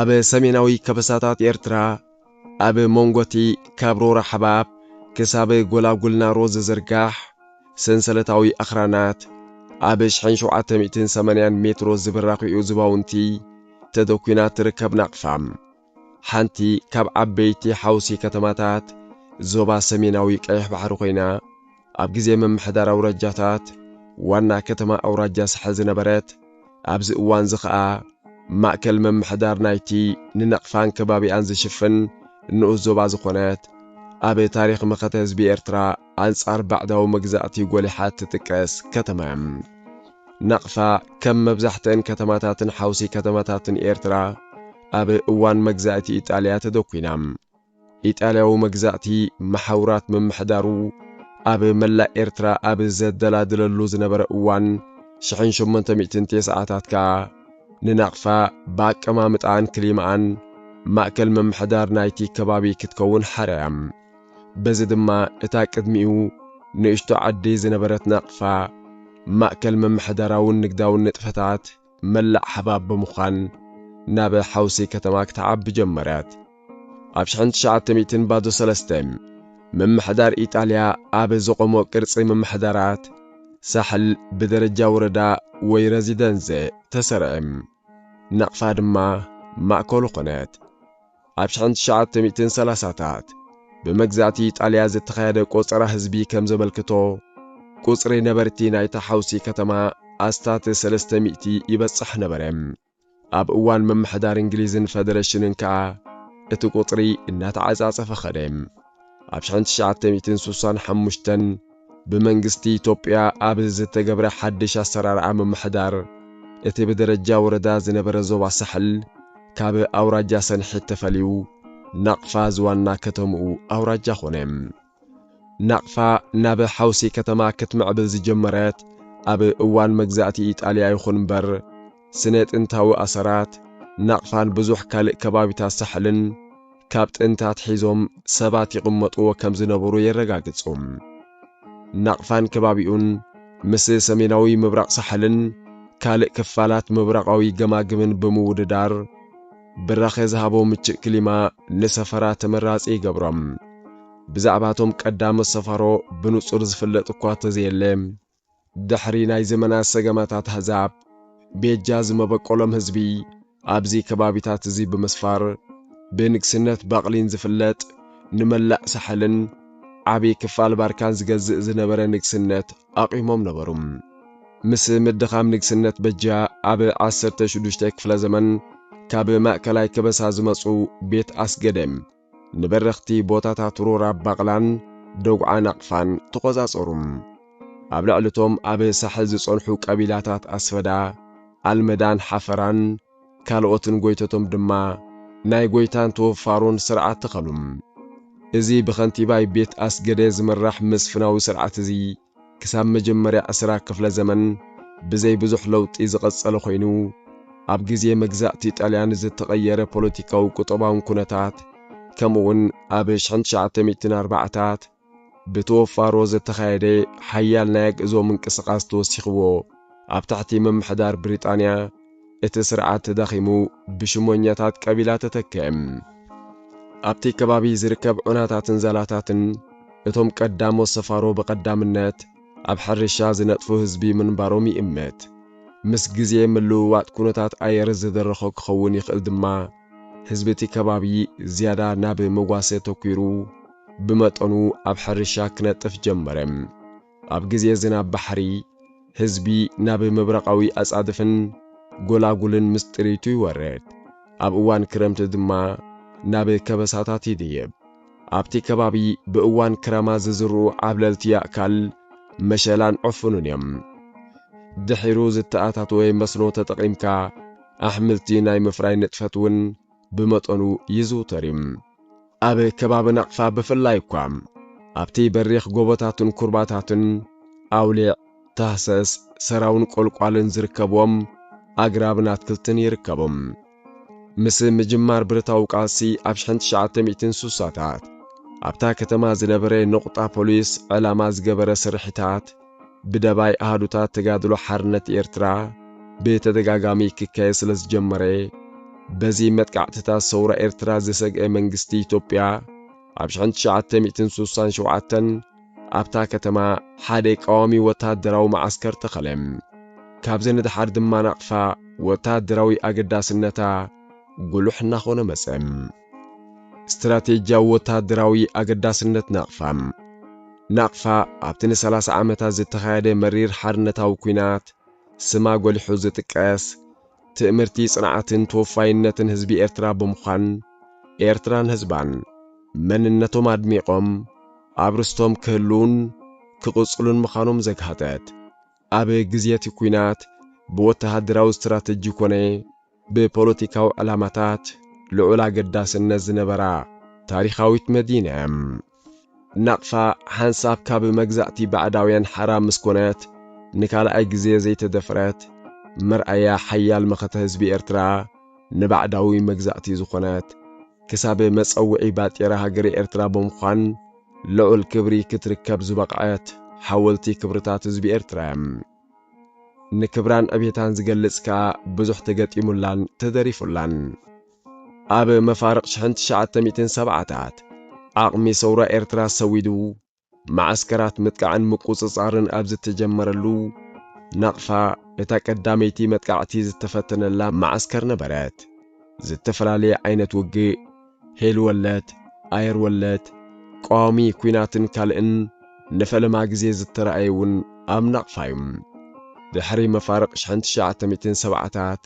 ኣብ ሰሜናዊ ከበሳታት ኤርትራ ኣብ መንጎቲ ካብ ሮራ ሓባብ ክሳብ ጎላጉል ናሮ ዝዝርጋሕ ሰንሰለታዊ ኣኽራናት፣ ኣብ ሽሕን ሸውዓተ ሚእትን ሰማንያን ሜትሮ ዝብራኹኡ ዝባውንቲ ተደኲና እትርከብ ናቕፋ፣ ሓንቲ ካብ ዓበይቲ ሓውሲ ከተማታት ዞባ ሰሜናዊ ቀይሕ ባሕሪ ኮይና፣ ኣብ ግዜ ምምሕዳር ኣውራጃታት ዋና ከተማ ኣውራጃ ሳሕል ዝነበረት፣ ኣብዚ እዋንዚ ከኣ ማእከል ምምሕዳር ናይቲ ንናቕፋን ከባቢኣን ዝሽፍን ንኡስ ዞባ ዝኾነት፣ ኣብ ታሪኽ መኸተ ህዝቢ ኤርትራ ኣንጻር ባዕዳዊ መግዛእቲ ጎሊሓ እትጥቀስ ከተማ እያ። ናቕፋ ከም መብዛሕትአን ከተማታትን ሓውሲ ከተማታትን ኤርትራ ኣብ እዋን መግዛእቲ ኢጣልያ ተደኲና። ኢጣልያዊ መግዛእቲ መሓውራት ምምሕዳሩ ኣብ መላእ ኤርትራ ኣብ ዘደላድለሉ ዝነበረ እዋን ሽሕን ሸሞንተ ሚእትን ቴስዓታት ከኣ ንናቕፋ ብኣቀማምጣኣን ክሊማኣን ማእከል ምምሕዳር ናይቲ ከባቢ ክትከውን ሓርያ። በዚ ድማ እታ ቅድሚኡ ንእሽቶ ዓዲ ዝነበረት ናቕፋ፣ ማእከል ምምሕዳራውን ንግዳውን ንጥፈታት መላእ ሓባብ ብምዃን ናብ ሓውሲ ከተማ ክትዓቢ ጀመረት። ኣብ ሽሕን ትሽዓተ ሚእትን ባዶ ሰለስተ፣ ምምሕዳር ኢጣልያ ኣብ ዘቖሞ ቅርጺ ምምሕዳራት ሳሕል ብደረጃ ወረዳ ወይ ረዚደንዘ ተሰርዔ። ናቕፋ ድማ ማእከሉ ኮነት። ኣብ ሽሕን ትሽዓተ ሚእትን ሰላሳታት ብመግዛእቲ ኢጣልያ ዝተኻየደ ቆጸራ ህዝቢ ከም ዘመልክቶ፣ ቁጽሪ ነበርቲ ናይታ ሓውሲ ከተማ ኣስታት ሰለስተ ሚእቲ ይበጽሕ ነበረ። ኣብ እዋን ምምሕዳር እንግሊዝን ፈደረሽንን ከኣ እቲ ቁጽሪ እናተዓጻጸፈ ከደ። ኣብ ሽሕን ትሽዓተ ሚእትን ስሳን ሓሙሽተን ብመንግስቲ ኢትዮጵያ ኣብ ዝተገብረ ሓድሽ ኣሰራርዓ ምምሕዳር እቲ ብደረጃ ወረዳ ዝነበረ ዞባ ሳሕል ካብ ኣውራጃ ሰንሒት ተፈልዩ ናቕፋ ዝዋና ከተምኡ ኣውራጃ ኾነ። ናቕፋ ናብ ሓውሲ ከተማ ክትምዕብል ዝጀመረት ኣብ እዋን መግዛእቲ ኢጣልያ ይኹን ምበር፣ ስነ ጥንታዊ ኣሰራት ናቕፋን ብዙሕ ካልእ ከባቢታት ሳሕልን ካብ ጥንቲ ኣትሒዞም ሰባት ይቕመጥዎ ከም ዝነበሩ የረጋግጹ። ናቕፋን ከባቢኡን ምስ ሰሜናዊ ምብራቕ ሳሕልን ካልእ ክፋላት ምብራቓዊ ገማግምን ብምውድዳር ብራኸ ዝሃቦ ምቹእ ክሊማ ንሰፈራ ተመራጺ ይገብሮም። ብዛዕባ እቶም ቀዳሞት ሰፋሮ ብንጹር ዝፍለጥ እኳ እተዘየለ፣ ድሕሪ ናይ ዘመናት ሰገማታት ኣህዛብ ቤጃ ዝመበቆሎም ህዝቢ ኣብዚ ከባቢታት እዚ ብምስፋር ብንግስነት ባቕሊን ዝፍለጥ ንመላእ ሳሕልን ዓቢ ክፋል ባርካን ዝገዝእ ዝነበረ ንግስነት ኣቚሞም ነበሩ። ምስ ምድኻም ንግስነት በጃ ኣብ ዓሰርተ ሽዱሽተ ክፍለ ዘመን ካብ ማእከላይ ከበሳ ዝመጹ ቤት ኣስገደ፣ ንበረኽቲ ቦታታት ሮራ ባቕላን ደጉዓ ናቕፋን ተቖጻጸሩ። ኣብ ልዕሊ'ቶም ኣብ ሳሕል ዝጸንሑ ቀቢላታት ኣስፈዳ፣ ኣልመዳን ሓፈራን ካልኦትን ጎይቶቶም ድማ ናይ ጎይታን ተወፋሮን ስርዓት ተኸሉ። እዚ ብኸንቲባይ ቤት ኣስገደ ዝምራሕ መስፍናዊ ስርዓት'ዚ፣ ክሳብ መጀመርያ ዕስራ ክፍለ ዘመን ብዘይ ብዙሕ ለውጢ ዝቐጸለ ኮይኑ፣ ኣብ ግዜ መግዛእቲ ጣልያን ዝተቐየረ ፖለቲካዊ ቁጠባውን ኩነታት ከምኡውን ኣብ ሽሕን ትሽዓተ ሚእትን ኣርባዓታት ብተወፋሮ ዝተኻየደ ሓያል ናይ ኣግእዞ ምንቅስቓስ ተወሲኽዎ ኣብ ትሕቲ ምምሕዳር ብሪጣንያ እቲ ስርዓት ተዳኺሙ ብሽሞኛታት ቀቢላ ተተክኤ። ኣብቲ ከባቢ ዝርከብ ዑናታትን ዛላታትን እቶም ቀዳሞት ሰፋሮ ብቐዳምነት ኣብ ሕርሻ ዝነጥፉ ህዝቢ ምንባሮም ይእመት። ምስ ግዜ ምልውዋጥ ኩነታት ኣየር ዝደረኾ ክኸውን ይኽእል ድማ ህዝቢ እቲ ከባቢ ዝያዳ ናብ መጓሰ ተኲሩ ብመጠኑ ኣብ ሕርሻ ክነጥፍ ጀመረ። ኣብ ግዜ ዝናብ ባሕሪ፣ ህዝቢ ናብ ምብራቓዊ ኣጻድፍን ጎላጉልን ምስ ጥሪቱ ይወርድ፣ ኣብ እዋን ክረምቲ ድማ ናብ ከበሳታት ይድይብ። ኣብቲ ከባቢ ብእዋን ክረማ ዝዝርኡ ዓብለልቲ ያእካል፣ መሸላን ዕፉንን እዮም። ድሒሩ ዝተኣታተወ መስኖ ተጠቒምካ ኣሕምልቲ ናይ ምፍራይ ንጥፈት እውን ብመጠኑ ይዝውተር እዩ። ኣብ ከባቢ ናቕፋ ብፍላይ እኳ ኣብቲ በሪኽ ጎቦታትን ኩርባታትን ኣውሊዕ፣ ታህሰስ፣ ሰራውን ቆልቋልን ዝርከብዎም ኣግራብን ኣትክልትን ይርከቦም። ምስ ምጅማር ብረታዊ ቃልሲ ኣብ ሽሕን ትሽዓተ ሚእትን ስሳታት ኣብታ ከተማ ዝነበረ ነቑጣ ፖሊስ ዕላማ ዝገበረ ስርሒታት ብደባይ ኣሃዱታት ተጋድሎ ሓርነት ኤርትራ ብተደጋጋሚ ክካየድ ስለ ዝጀመረ፣ በዚ መጥቃዕትታት ሰውራ ኤርትራ ዝሰግኤ መንግስቲ ኢትዮጵያ፣ ኣብ ሽሕን ትሽዓተ ሚእትን ስሳን ሸውዓተን ኣብታ ከተማ ሓደ ቀዋሚ ወተሃደራዊ መዓስከር ተኸለ። ካብዚ ንደሓር ድማ ናቕፋ ወተሃደራዊ ኣገዳስነታ ጉሉሕ እናኾነ መጸ። ስትራቴጂያዊ ወተሃደራዊ ኣገዳስነት ናቕፋ። ናቕፋ ኣብቲ ንሰላሳ ዓመታት ዝተኻየደ መሪር ሓርነታዊ ኲናት ስማ ጎሊሑ ዝጥቀስ፣ ትእምርቲ ጽንዓትን ተወፋይነትን ህዝቢ ኤርትራ ብምዃን፣ ኤርትራን ህዝባን መንነቶም ኣድሚቖም ኣብ ርስቶም ክህልዉን ክቕጽሉን ምዃኖም ዘግሃጠት፣ ኣብ ግዜ'ቲ ኲናት ብወተሃደራዊ ስትራተጂ ኮነ ብፖለቲካዊ ዕላማታት ልዑል ኣገዳስነት ዝነበራ ታሪኻዊት መዲና እያ። ናቕፋ ሓንሳብ ካብ መግዛእቲ ባዕዳውያን ሓራ ምስ ኮነት ንካልኣይ ግዜ ዘይተደፍረት፣ መርኣያ ሓያል መኸተ ህዝቢ ኤርትራ ንባዕዳዊ መግዛእቲ ዝኾነት፣ ክሳብ መጸውዒ ባጤራ ሃገረ ኤርትራ ብምዃን ልዑል ክብሪ ክትርከብ ዝበቕዐት ሓወልቲ ክብርታት ህዝቢ ኤርትራ እያ። ንክብራን ዕቤታን ዝገልጽ ከኣ ብዙሕ ተገጢሙላን ተደሪፉላን። ኣብ መፋርቕ ሽሕን ትሽዓተ ሚእትን ሰብዓታት፣ ዓቕሚ ሰውራ ኤርትራ ሰዊዱ፣ መዓስከራት ምጥቃዕን ምቁጽጻርን ኣብ ዝተጀመረሉ፣ ናቕፋ እታ ቀዳመይቲ መጥቃዕቲ ዝተፈተነላ መዓስከር ነበረት። ዝተፈላለየ ዓይነት ውግእ፣ ሄል ወለድ፣ ኣየር ወለድ፣ ቀዋሚ ኩናትን ካልእን ንፈለማ ግዜ ዝተራእየ እውን ኣብ ናቕፋ እዩ። ድሕሪ መፋርቕ ሽሕን ትሽዓተ ሚእትን ሰብዓታት፣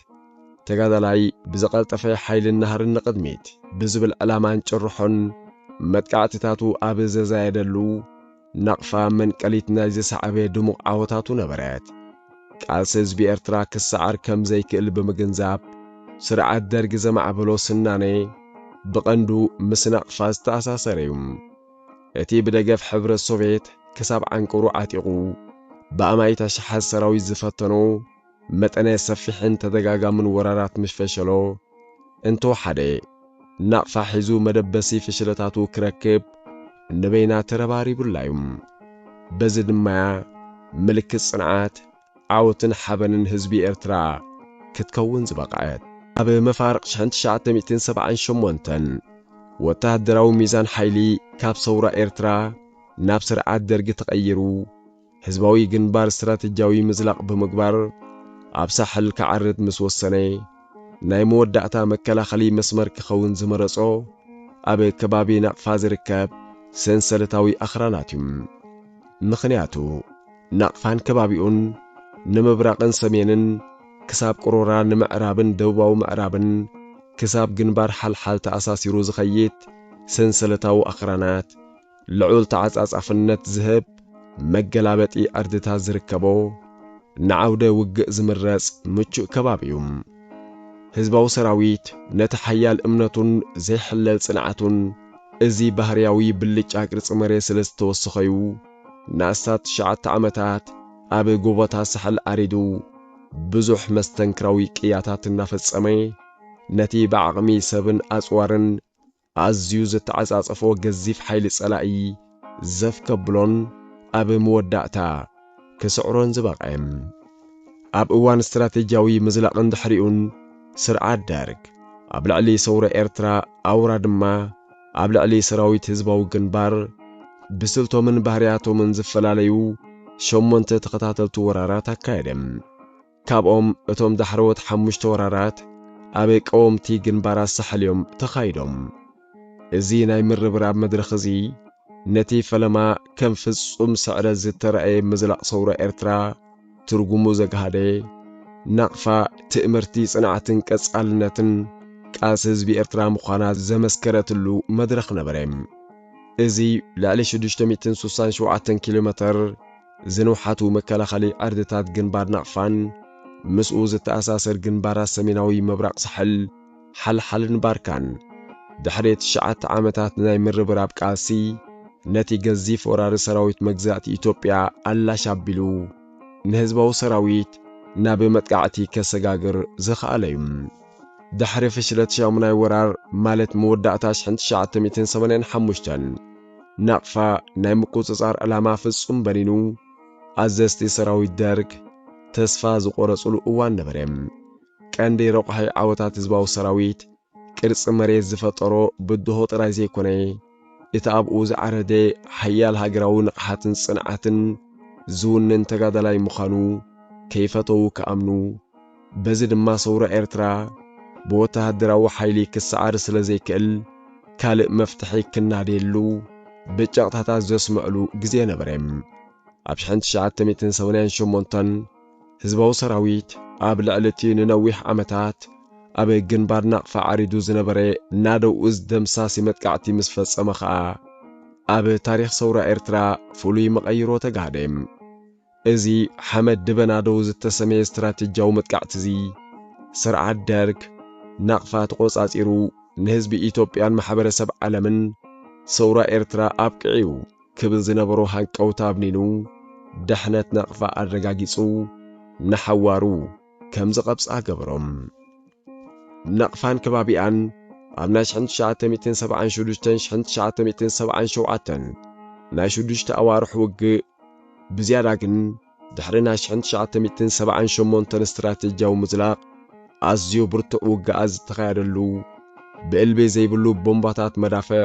ተጋዳላይ ብዝቐልጠፈ ሓይልን ናህርን ንቕድሚት ብዝብል ዕላማን ጭርሖን መጥቃዕትታቱ ኣብ ዘዛየደሉ፣ ናቕፋ መንቀሊት ናይ ዝሰዓበ ድሙቕ ዓወታቱ ነበረት። ቃልሲ ህዝቢ ኤርትራ ክሰዓር ከም ዘይክእል ብምግንዛብ፣ ስርዓት ደርግ ዘማዕበሎ ስናኔ ብቐንዱ ምስ ናቕፋ ዝተኣሳሰረ እዩ። እቲ ብደገፍ ሕብረት ሶቬት ክሳብ ዓንቀሩ ዓጢቑ ብኣማኢት ኣሽሓት ሰራዊት ዝፈተኖ መጠነ ሰፊሕን ተደጋጋምን ወራራት ምስ ፈሸሎ፣ እንተወሓደ ናቕፋ ሒዙ መደበሲ ፍሽለታቱ ክረክብ ንበይና ተረባሪቡላ'ዩ። በዚ ድማ'ያ ምልክት ጽንዓት፣ ዓወትን ሓበንን ህዝቢ ኤርትራ ክትከውን ዝበቕዐት። ኣብ መፋርቕ ሽሕን ትሽዓተ ሚእትን ሰብዓን ሸሞንተን፣ ወተሃደራዊ ሚዛን ሓይሊ ካብ ሰውራ ኤርትራ ናብ ስርዓት ደርጊ ተቐይሩ፣ ህዝባዊ ግንባር ስትራተጂያዊ ምዝላቕ ብምግባር ኣብ ሳሕል ክዓርብ ምስ ወሰነ፣ ናይ መወዳእታ መከላኸሊ መስመር ክኸውን ዝመረጾ ኣብ ከባቢ ናቕፋ ዝርከብ ሰንሰለታዊ ኣኽራናት እዩ። ምኽንያቱ ናቕፋን ከባቢኡን ንምብራቕን ሰሜንን ክሳብ ቅሮራ ንምዕራብን ደቡባዊ ምዕራብን ክሳብ ግንባር ሓልሓል ተኣሳሲሩ ዝኸይድ ሰንሰለታዊ ኣኽራናት፣ ልዑል ተዓጻጻፍነት ዝህብ መገላበጢ ዕርድታት ዝርከቦ፣ ንዓውደ ውግእ ዝምረጽ ምቹእ ከባቢ እዩ። ህዝባዊ ሰራዊት ነቲ ሓያል እምነቱን ዘይሕለል ጽንዓቱን እዚ ባህርያዊ ብልጫ ቅርጺ መሬት ስለ ዝተወሰኸ'ዩ ንኣስታት ትሽዓተ ዓመታት ኣብ ጎቦታት ሳሕል ዓሪዱ ብዙሕ መስተንክራዊ ቅያታት እናፈጸመ ነቲ ብዓቕሚ ሰብን ኣጽዋርን ኣዝዩ ዘተዓጻጸፎ ገዚፍ ሓይሊ ጸላኢ ዘፍ ከብሎን ኣብ መወዳእታ ክስዕሮን ዝበቕዐ። ኣብ እዋን ስትራተጂያዊ ምዝላቕን ድሕሪኡን ስርዓት ደርግ ኣብ ልዕሊ ሰውራ ኤርትራ ኣውራ ድማ ኣብ ልዕሊ ሰራዊት ህዝባዊ ግንባር ብስልቶምን ባህርያቶምን ዝፈላለዩ ሸሞንተ ተኸታተልቲ ወራራት ኣካየደ። ካብኦም እቶም ዳሕረዎት ሓሙሽተ ወራራት ኣብ ቀወምቲ ግንባራት ሳሕል እዮም ተኻይዶም። እዚ ናይ ምርብራብ መድረኽ እዚ ነቲ ፈለማ ከም ፍጹም ስዕረት ዝተራእየ ምዝላቕ ሰውራ ኤርትራ ትርጉሙ ዘግሃደ፣ ናቕፋ ትእምርቲ ጽንዓትን ቀጻልነትን ቃልሲ ህዝቢ ኤርትራ ምዃና ዘመስከረትሉ መድረኽ ነበረ። እዚ ልዕሊ ሽዱሽተ ሚእትን ሱሳን ሸውዓተን ኪሎመተር፣ ዝንውሓቱ መከላኸሊ ዕርድታት ግንባር ናቕፋን ምስኡ ዝተኣሳሰር ግንባራት ሰሜናዊ ምብራቕ ሳሕል፣ ሓልሓልን ባርካን፣ ድሕሪ ትሽዓተ ዓመታት ናይ ምርብራብ ቃልሲ፣ ነቲ ገዚፍ ወራሪ ሰራዊት መግዛእቲ ኢትዮጵያ ኣላሽ ኣቢሉ ንህዝባዊ ሰራዊት ናብ መጥቃዕቲ ከሰጋግር ዝኸኣለ'ዩ። ድሕሪ ፍሽለት ሻሙናይ ወራር፣ ማለት መወዳእታ ሽሕን ትሽዓተ ሚእትን ሰማንያን ሓሙሽተን፣ ናቕፋ ናይ ምቁጽጻር ዕላማ ፍጹም በኒኑ፣ ኣዘዝቲ ሰራዊት ደርግ ተስፋ ዝቖረጹሉ እዋን ነበረ። ቀንዲ ረቋሒ ዓወታት ህዝባዊ ሰራዊት፣ ቅርጺ መሬት ዝፈጠሮ ብድሆ ጥራይ ዘይኮነ፣ እቲ ኣብኡ ዝዓረደ ሓያል ሃገራዊ ንቕሓትን ጽንዓትን ዝውንን ተጋዳላይ ምዃኑ ከይፈተዉ ክኣምኑ፣ በዚ ድማ ሰውራ ኤርትራ ብወተሃደራዊ ሓይሊ ክሰዓር ስለ ዘይክእል ካልእ መፍትሒ ክናደየሉ ብጨቕታታት ዘስመዕሉ ግዜ ነበረ። ኣብ ሽሕን ትሽዓተ ሚእትን ሰማንያን ሸሞንተን ህዝባዊ ሰራዊት ኣብ ልዕሊ እቲ ንነዊሕ ዓመታት ኣብ ግንባር ናቕፋ ዓሪዱ ዝነበረ ናደው እዝ ደምሳሲ መጥቃዕቲ ምስ ፈጸመ ከኣ ኣብ ታሪኽ ሰውራ ኤርትራ ፍሉይ መቐይሮ ተጋህደ። እዚ ሓመድ ድበናዶ ዝተሰምየ ስትራቴጂያዊ መጥቃዕቲ'ዚ፣ ስርዓት ደርግ፣ ናቕፋ ተቖጻጺሩ ንህዝቢ ኢትዮጵያን ማሕበረሰብ ዓለምን ሰውራ ኤርትራ ኣብቅዕ'ዩ ክብል ዝነበሮ ሃንቀውታ ኣብኒኑ፣ ድሕነት ናቕፋ ኣረጋጊጹ፣ ንሓዋሩ፣ ከም ዝቐብጻ ገበሮም። ናቕፋን ከባቢኣን ኣብ ናይ ሽሕን ትሽዓተ ሚእትን ሰብዓን ሹዱሽተን ሽሕን ትሽዓተ ሚእትን ሰብዓን ሸውዓተን ናይ ሹዱሽተ ኣዋርሕ ውግእ ብዝያዳ ግን ድሕሪ ናይ ሽሕን ትሽዓተ ሚእትን ሰብዓን ሸሞንተን ስትራቴጂያዊ ምዝላቕ ኣዝዩ ብርቱዕ ውግኣት ዝተኻየደሉ ብእልቢ ዘይብሉ ቦምባታት መዳፍዕ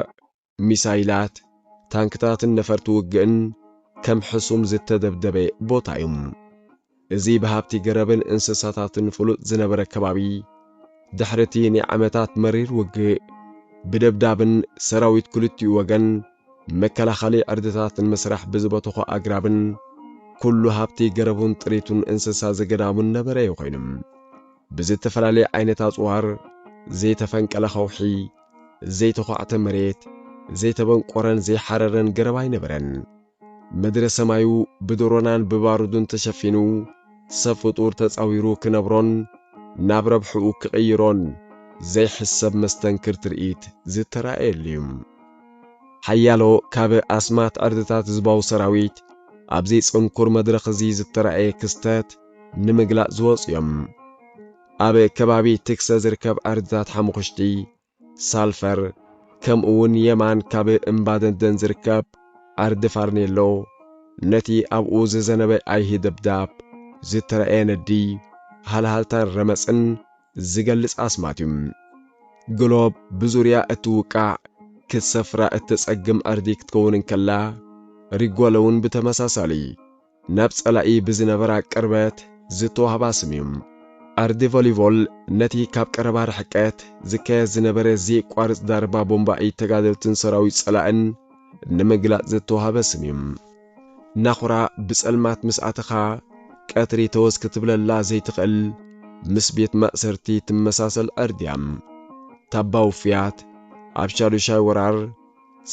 ሚሳይላት፣ ታንክታትን ነፈርቲ ውግእን ከም ሕሱም ዝተደብደበ ቦታ እዩ። እዚ ብሃብቲ ገረብን እንስሳታትን ፍሉጥ ዝነበረ ከባቢ፣ ድሕሪ እቲ ናይ ዓመታት መሪር ውግእ፣ ብደብዳብን ሰራዊት ክልቲኡ ወገን መከላኸሊ ዕርድታት ንምስራሕ ብዝበተኾ ኣግራብን ኩሉ ሃብቲ ገረቡን ጥሪቱን እንስሳ ዘገዳሙን ነበረ እዩ ኮይኑ። ብዝተፈላለየ ዓይነት ኣጽዋር፣ ዘይተፈንቀለ ከውሒ፣ ዘይተዃዕተ መሬት፣ ዘይተበንቈረን ዘይሓረረን ገረብ ኣይነበረን። ምድረ ሰማዩ ብድሮናን ብባሩድን ተሸፊኑ፣ ሰብ ፍጡር ተጻዊሩ ክነብሮን ናብ ረብሕኡ ክቕይሮን ዘይሕሰብ መስተንክር ትርኢት ዝተራእየሉ'ዩ። ሓያሎ ካብ ኣስማት ዕርድታት ህዝባዊ ሰራዊት ኣብዚ ጽንኩር መድረኽ'ዚ ዝተራእየ ክስተት ንምግላጽ ዝወጹ'ዮም። ኣብ ከባቢ ትክሰ ዝርከብ ኣርድታት ሓሙኹሽቲ፣ ሳልፈር፣ ከምኡውን የማን ካብ እምባ ደንደን ዝርከብ ኣርዲ ፋርኔሎ፣ ነቲ ኣብኡ ዝዘነበ ኣይሂ ደብዳብ ዝተራእየ ነዲ፣ ሃልሃልታን ረመጽን ዝገልጽ ኣስማት እዩ። ግሎብ ብዙርያ እትውቃዕ ክትሰፍራ እተጸግም ኣርዲ ክትከውን እንከላ፣ ሪጎለውን ብተመሳሳሊ ናብ ጸላኢ ብዝነበራ ቅርበት ዝተዋህባ ስም እዩ። ኣርዲ ቮሊቮል ነቲ ካብ ቀረባ ርሕቀት ዝካየድ ዝነበረ ዘየቋርጽ ዛረባ ቦምባ ኢድ ተጋደልትን ሰራዊት ጸላእን ንምግላጽ ዝተዋህበ ስም እዩ። ናኹራ ብጸልማት ምስ ኣተኻ ቀትሪ ተወስ ክትብለላ ዘይትኽእል ምስ ቤት ማእሰርቲ ትመሳሰል ዕርዲ እያ። ታባ ውፍያት ኣብ ሻዱሻይ ወራር፣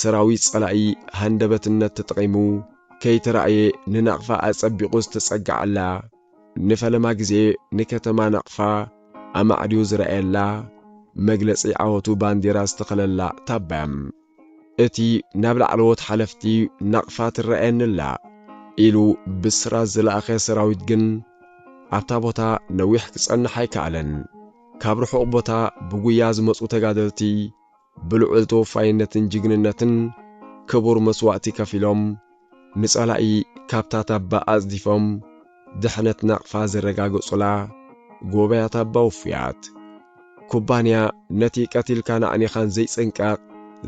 ሰራዊት ጸላኢ ሃንደበትነት ተጠቒሙ ከይተራእየ ንናቕፋ ኣጸቢቑ ዝተጸገዐላ፣ ንፈለማ ግዜ ንከተማ ናቕፋ ኣማዕድዩ ዝረኣየላ፣ መግለጺ ዓወቱ ባንዴራ ዝተኸለላ ታባያ፣ እቲ ናብ ላዕለዎት ሓለፍቲ ናቕፋ ትረኣየኒ'ላ ኢሉ ብስራት ዝለኣኸ ሰራዊት ግን ኣብታ ቦታ ነዊሕ ክጸንሕ ኣይከኣለን። ካብ ርሑቕ ቦታ ብጉያ ዝመጹ ተጋደልቲ፣ ብልዑል ተወፋይነትን ጅግንነትን ክቡር መስዋእቲ ከፊሎም ንጸላኢ ካብታ ታባ ኣጽዲፎም ድሕነት ናቕፋ ዘረጋገጹላ ጎበያ ታባ ውፉያት ኩባንያ ነቲ ቀቲልካን ኣዕኒኻን ዘይጽንቀቕ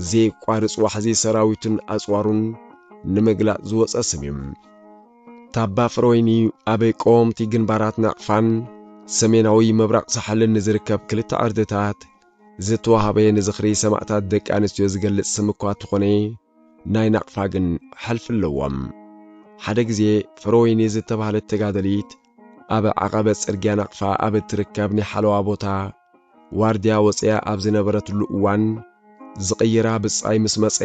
ዘየቋርጽ ዋሕዚ ሰራዊቱን ኣጽዋሩን ንምግላጽ ዝወጸ ስም እዩ። ታባ ፍረወይኒ ኣብ ቀወምቲ ግንባራት ናቕፋን ሰሜናዊ ምብራቕ ሳሕልን ንዝርከብ ክልተ ዕርድታት ዝተዋህበ ንዝኽሪ ሰማእታት ደቂ ኣንስትዮ ዝገልጽ ስም እኳ ተኾነ ናይ ናቕፋ ግን ሕልፊ ኣለዎም። ሓደ ግዜ ፍረወይኒ ዝተባህለት ተጋደሊት ኣብ ዓቐበት ጽርግያ ናቕፋ ኣብ እትርከብ ናይ ሓለዋ ቦታ ዋርድያ ወጽያ ኣብ ዝነበረትሉ እዋን ዝቕይራ ብጻይ ምስ መጸ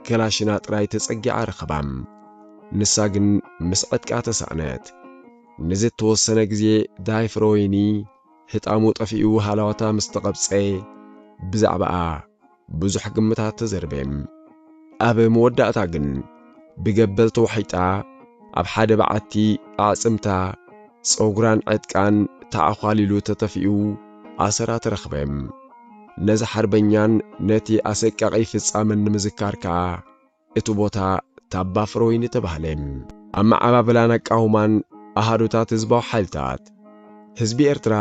ከላሽና ጥራይ ተጸጊዓ ረኸባ። ንሳ ግን ምስ ዕጥቃ ተሳእነት። ንዝተወሰነ ግዜ ዳይ ፍረወይኒ ህጣሙ ጠፊኡ ሃላዋታ ምስ ተቐብጸ፣ ብዛዕባኣ ብዙሕ ግምታት ተዘርበ። ኣብ መወዳእታ ግን ብገበል ተዋሒጣ ኣብ ሓደ በዓቲ ኣዕጽምታ፣ ጸጉራን ዕጥቃን ተዓዃሊሉ ተተፊኡ ኣሰራ ተረኽበ። ነዚ ሓርበኛን ነቲ ኣሰቃቒ ፍጻመን ንምዝካር ከኣ እቲ ቦታ ታባ ፍረወይኒ ተባህለ። ኣመዓባብላን ኣቃውማን ኣሃዱታት ህዝባዊ ሓይልታት፣ ህዝቢ ኤርትራ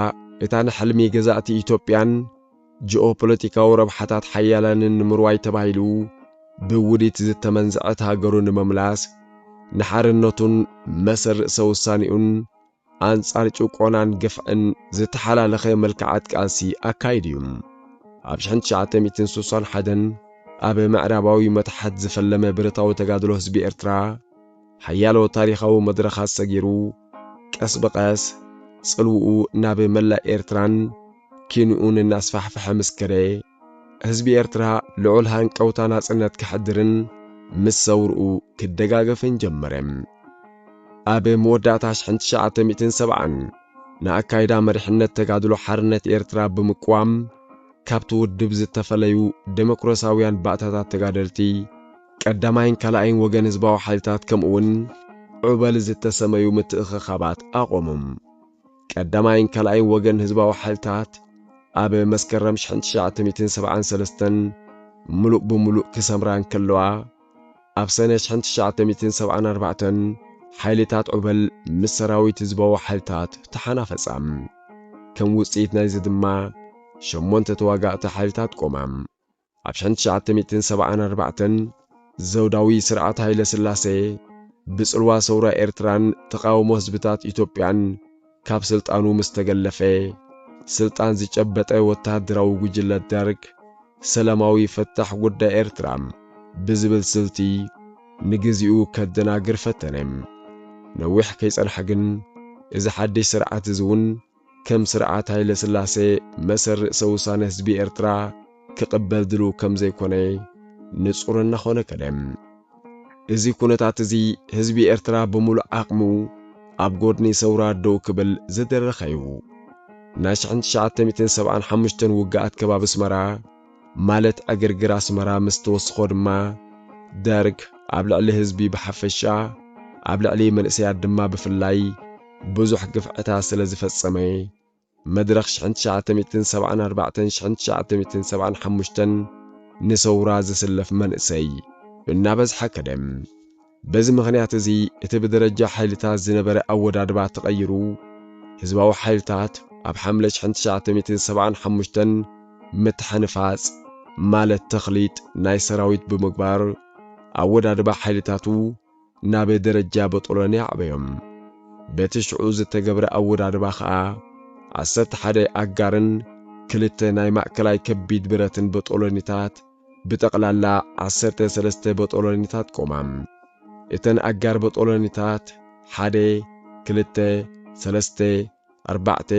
እታ ንሕልሚ ገዛእቲ ኢትዮጵያን ጂኦፖለቲካዊ ረብሓታት ሓያላንን ንምርዋይ ተባሂሉ ብውዲት ዝተመንዘዐት ሃገሩ ንምምላስ ንሓርነቱን መሰል ርእሰ ውሳኔኡን ኣንጻር ጭቆናን ግፍዕን ዝተሓላለኸ መልክዓት ቃልሲ ኣካይዱ እዩ። ኣብ ሽሕን ትሽዓተ ሚእትን ስሳን ሓደን ኣብ ምዕራባዊ መታሕት ዝፈለመ ብረታዊ ተጋድሎ ህዝቢ ኤርትራ ሓያሎ ታሪኻዊ መድረኻት ሰጊሩ ቀስ ብቐስ ጽልውኡ ናብ መላእ ኤርትራን ኪንኡን እናስፋሕፍሐ ምስ ከደ ህዝቢ ኤርትራ ልዑል ሃንቀውታ ናጽነት ከሕድርን ምስ ሰውርኡ ክደጋገፍን ጀመረ። ኣብ መወዳእታ ሽሕን ትሽዓተ ሚእትን ሰብዓን ንኣካይዳ መሪሕነት ተጋድሎ ሓርነት ኤርትራ ብምቅዋም ካብቲ ውድብ ዝተፈለዩ ደሞክራስያውያን ባእታታት ተጋደልቲ ቀዳማይን ካልኣይን ወገን ህዝባዊ ሓይልታት ከምኡውን ዑበል ዝተሰመዩ ምትእኽኻባት ኣቖሙ። ቀዳማይን ካልኣይን ወገን ህዝባዊ ሓይልታት ኣብ መስከረም ሽሕን ትሽዓተ ሚእትን ሰብዓን ሰለስተን ምሉእ ብምሉእ ክሰምራ እንከለዋ፣ ኣብ ሰነ ሽሕን ትሽዓተ ሚእትን ሰብዓን ኣርባዕተን ሓይልታት ዑበል ምስ ሰራዊት ህዝባዊ ሓይልታት ተሓናፈጻ። ከም ውጽኢት ናይዚ ድማ ሸሞንተ ተዋጋእቲ ሓይልታት ቆማ። ኣብ ሽሕን ትሽዓተ ሚእትን ሰብዓን ኣርባዕተን ዘውዳዊ ስርዓት ሃይለስላሴ ብጽልዋ ሰውራ ኤርትራን ተቓውሞ ህዝብታት ኢትዮጵያን ካብ ስልጣኑ ምስ ተገለፈ፣ ስልጣን ዝጨበጠ ወተሃደራዊ ጉጅለ ደርግ፣ ሰላማዊ ፈታሕ ጉዳይ ኤርትራ ብዝብል ስልቲ ንግዜኡ ከደናግር ፈተነ። ነዊሕ ከይጸንሐ ግን፣ እዚ ሓድሽ ስርዓት'ዚ ውን ከም ስርዓት ሃይለስላሴ መሰል ርእሰ-ውሳነ ህዝቢ ኤርትራ፣ ክቕበል ድልው ከም ዘይኮነ ንጹር እናኾነ ከደ። እዚ ኩነታት እዚ ህዝቢ ኤርትራ ብምሉእ ዓቕሙ ኣብ ጎድኒ ሰውራ ደው ክብል ዝደረኸ እዩ። ናይ ሽሕን ትሽዓተ ሚእትን ሰብዓን ሓሙሽተን ውግኣት ከባቢ ኣስመራ ማለት ዕግርግር ኣስመራ ምስ ተወስኾ ድማ ደርግ ኣብ ልዕሊ ህዝቢ ብሓፈሻ ኣብ ልዕሊ መንእሰያት ድማ ብፍላይ ብዙሕ ግፍዕታት ስለ ዝፈጸመ መድረኽ ሽሕን ትሽዓተ ሚእትን ሰብዓን ኣርባዕተን ሽሕን ትሽዓተ ሚእትን ሰብዓን ሓሙሽተን ንሰውራ ዝስለፍ መንእሰይ እናበዝሓ ከደ። በዚ ምኽንያት እዚ እቲ ብደረጃ ሓይልታት ዝነበረ ኣወዳድባ ተቐይሩ ህዝባዊ ሓይልታት ኣብ ሓምለ ሽሕን ትሽዓተ ሚእትን ሰብዓን ሓሙሽተን ምትሕንፋጽ ማለት ተኽሊጥ ናይ ሰራዊት ብምግባር ኣወዳድባ ሓይልታቱ ናበ ደረጃ በጦሎኒ ኣዕበዮም። በቲ ሽዑ ዝተገብረ ኣወዳድባ ከኣ ዓሰርተ ሓደ ኣጋርን ክልተ ናይ ማእከላይ ከቢድ ብረትን በጦሎኒታት ብጠቕላላ ዓሰርተ ሰለስተ በጦሎኒታት ቆማ። እተን ኣጋር በጦሎኒታት ሓደ ክልተ ሰለስተ፣ ኣርባዕተ፣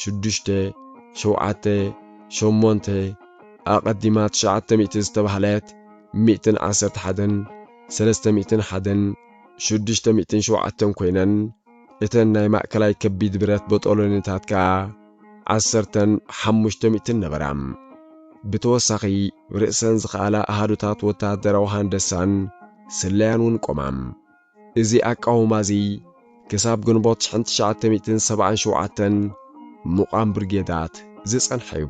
ሽዱሽተ፣ ሸውዓተ፣ ሸሞንተ፣ ኣቐዲማ ትሽዓተ ሚእቲ ዝተባህለት ሚእትን ዓሰርተ ሓደን ሰለስተ ሚእትን ሓደን ሽዱሽተ ሚእትን ሸውዓተን ኮይነን እተን ናይ ማእከላይ ከቢድ ብረት ቦጦሎኒታት ከኣ ዓሰርተን ሓሙሽተ ሚእትን ነበራ። ብተወሳኺ ርእሰን ዝኸኣላ ኣሃዱታት ወተሃደራዊ ሃንደሳን ስለያን እውን ቆማ። እዚ ኣቃውማ እዚ ክሳብ ግንቦት ሽሕን ትሽዓተ ሚእትን ሰብዓን ሸውዓተን ምቛም ብርጌዳት ዝጸንሐ እዩ።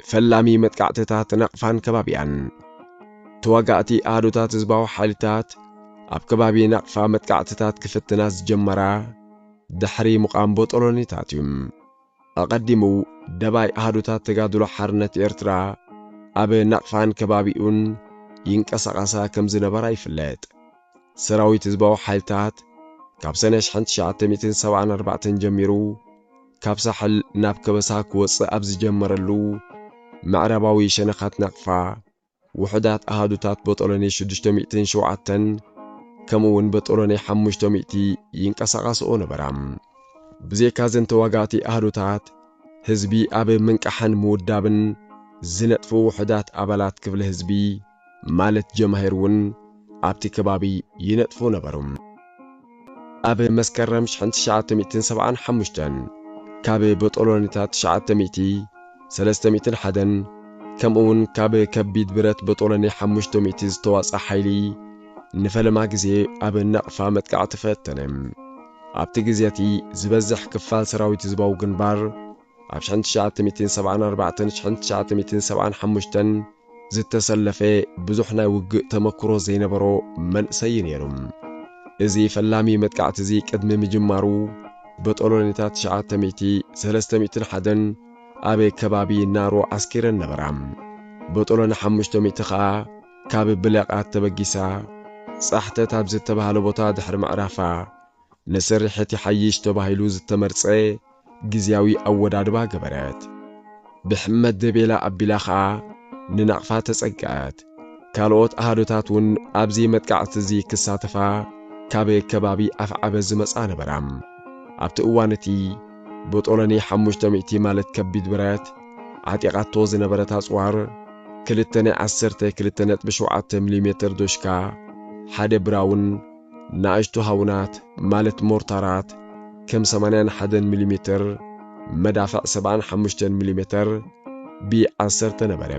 ፈላሚ መጥቃዕትታት ናቕፋን ከባቢኣን። ተዋጋእቲ ኣሃዱታት ህዝባዊ ሓይልታት ኣብ ከባቢ ናቕፋ መጥቃዕትታት ክፍትና ዝጀመራ ድሕሪ ምቛም ቦጦሎኒታት እዩ። ኣቐዲሙ ደባይ ኣሃዱታት ተጋድሎ ሓርነት ኤርትራ ኣብ ናቕፋን ከባቢኡን ይንቀሳቐሳ ከም ዝነበራ ይፍለጥ። ሰራዊት ህዝባዊ ሓይልታት ካብ ሰነ ሽሕን ትሽዓተ ሚእትን ሰብዓን ኣርባዕተን ጀሚሩ ካብ ሳሕል ናብ ከበሳ ክወጽእ ኣብ ዝጀመረሉ፣ ምዕራባዊ ሸነኻት ናቕፋ፣ ውሑዳት ኣሃዱታት ቦጦሎኒ ሽዱሽተ ሚእትን ሸውዓተን ከምኡውን በጦሎኒ ሓሙሽተ ሚእቲ ይንቀሳቓስኦ ነበራ። ብዘይካ እዘን ተዋጋእቲ ኣሃዱታት፣ ህዝቢ ኣብ ምንቃሕን ምውዳብን ዝነጥፉ ውሑዳት ኣባላት ክፍሊ ህዝቢ ማለት ጀማሂር እውን ኣብቲ ከባቢ ይነጥፉ ነበሩ። ኣብ መስከረም ሽሕን ትሽዓተ ሚእትን ሰብዓን ሓሙሽተን ካብ በጦሎኒታት ትሽዓተ ሚእቲ፣ ሰለስተ ሚእትን ሓደን፣ ከምኡውን ካብ ከቢድ ብረት በጦሎኒ ሓሙሽተ ሚእቲ ዝተዋጽኣ ሓይሊ ንፈለማ ግዜ ኣብ ናቕፋ መጥቃዕቲ ፈተነ። ኣብቲ ግዜ እቲ፣ ዝበዝሕ ክፋል ሰራዊት ህዝባዊ ግንባር ኣብ ሽሕን ትሽዓተ ሚእትን ሰብዓን ኣርባዕተን ሽሕን ትሽዓተ ሚእትን ሰብዓን ሓሙሽተን ዝተሰለፈ ብዙሕ ናይ ውግእ ተመክሮ ዘይነበሮ መንእሰይ እዩ ነይሩ። እዚ ፈላሚ መጥቃዕቲ እዚ ቅድሚ ምጅማሩ በጦሎኒታት ትሽዓተ ሚእቲ፣ ሰለስተ ሚእትን ሓደን ኣብ ከባቢ ናሮ ዓስኪረን ነበራ። በጦሎኒ ሓሙሽተ ሚእቲ ከኣ ካብ ብለቃት ተበጊሳ ጻሕተት ኣብ ዝተባህለ ቦታ ድሕሪ ምዕራፋ፣ ንስርሒት ይሓይሽ ተባሂሉ ዝተመርጸ ግዝያዊ ኣወዳድባ ገበረት። ብሕመት ደቤላ ኣቢላ ከኣ ንናቕፋ ተጸግዐት። ካልኦት ኣሃዱታት ውን ኣብዚ መጥቃዕቲ'ዚ ክሳተፋ ካብ ከባቢ ኣፍዓበት ዝመጻ ነበራ። ኣብቲ እዋን'ቲ ብጦለኒ ሓሙሽተ ሚእቲ ማለት ከቢድ ብረት ዓጢቓቶ ዝነበረት ኣጽዋር፣ ክልተ ናይ ዓሰርተ ክልተ ነጥቢ ሸውዓተ ሚሊሜተር ዶሽካ፣ ሓደ ብራውን፣ ንኣሽቱ ሃውናት ማለት ሞርታራት ከም ሰማንያን ሓደን ሚሊሜትር፣ መዳፍዕ ሰብዓን ሓሙሽተን ሚሊሜትር፣ ቢ ዓሰርተ ነበረ።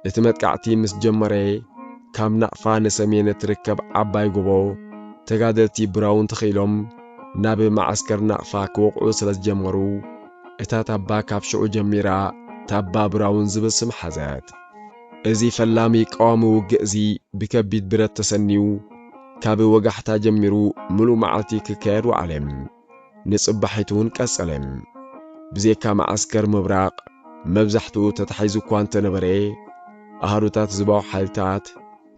እቲ መጥቃዕቲ ምስ ጀመረ ካብ ናቕፋ ንሰሜን እትርከብ ዓባይ ጎቦ ተጋደልቲ ብራውን ተኸኢሎም ናብ መዓስከር ናቕፋ ክወቕዑ ስለ ዝጀመሩ እታ ታባ ካብ ሽዑ ጀሚራ ታባ ብራውን ዝብል ስም ሓዘት። እዚ ፈላሚ ቀዋሚ ውግእ'ዚ ብከቢድ ብረት ተሰንዩ ካብ ወጋሕታ ጀሚሩ ምሉእ መዓልቲ ክካየድ ወዓለ። ንጽባሒቱ'ውን ቀጸለ። ብዜካ መዓስከር ምብራቕ መብዛሕትኡ ተታሒዙ'ኳ እንተነበረ፣ ኣሃዱታት ህዝባዊ ሓይልታት፣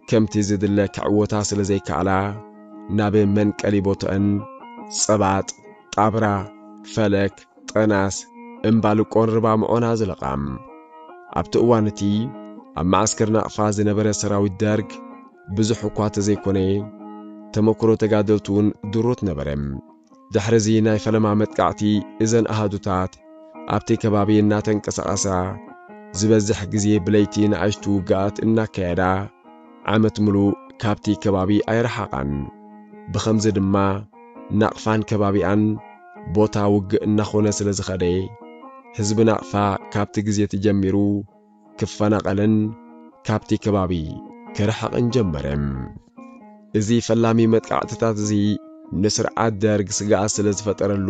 ከምቲ ዝድለ ክዕወታ ስለ ዘይከኣላ ናብ መንቀሊ ቦትኣን ጸባጥ፣ ጣብራ፣ ፈለክ፣ ጠናስ፣ እምባልቆን ርባምዖን ኣዝለቓ። ኣብቲ እዋን እቲ ኣብ መዓስከር ናቕፋ ዝነበረ ሰራዊት ደርግ ብዙሕ እኳ ተዘይኮነ ተመኩሮ ተጋደልቱ'ውን ድሩት ነበረ። ድሕሪ'ዚ ናይ ፈለማ መጥቃዕቲ እዘን ኣሃዱታት ኣብቲ ከባቢ እናተንቀሳቐሳ ዝበዝሕ ግዜ ብለይቲ ንኣሽቱ ውግኣት እናካየዳ ዓመት ምሉእ ካብቲ ከባቢ ኣይረሓቓን። ብኸምዚ ድማ ናቕፋን ከባቢኣን ቦታ ውግእ እናኾነ ስለዝኸደ ህዝቢ ናቕፋ ካብቲ ግዜ'ቲ ጀሚሩ ክፈናቐልን ካብቲ ከባቢ ክርሕቕን ጀመረ። እዚ ፈላሚ መጥቃዕትታት እዚ ንስርዓት ደርግ ስግኣት ስለ ዝፈጠረሉ፣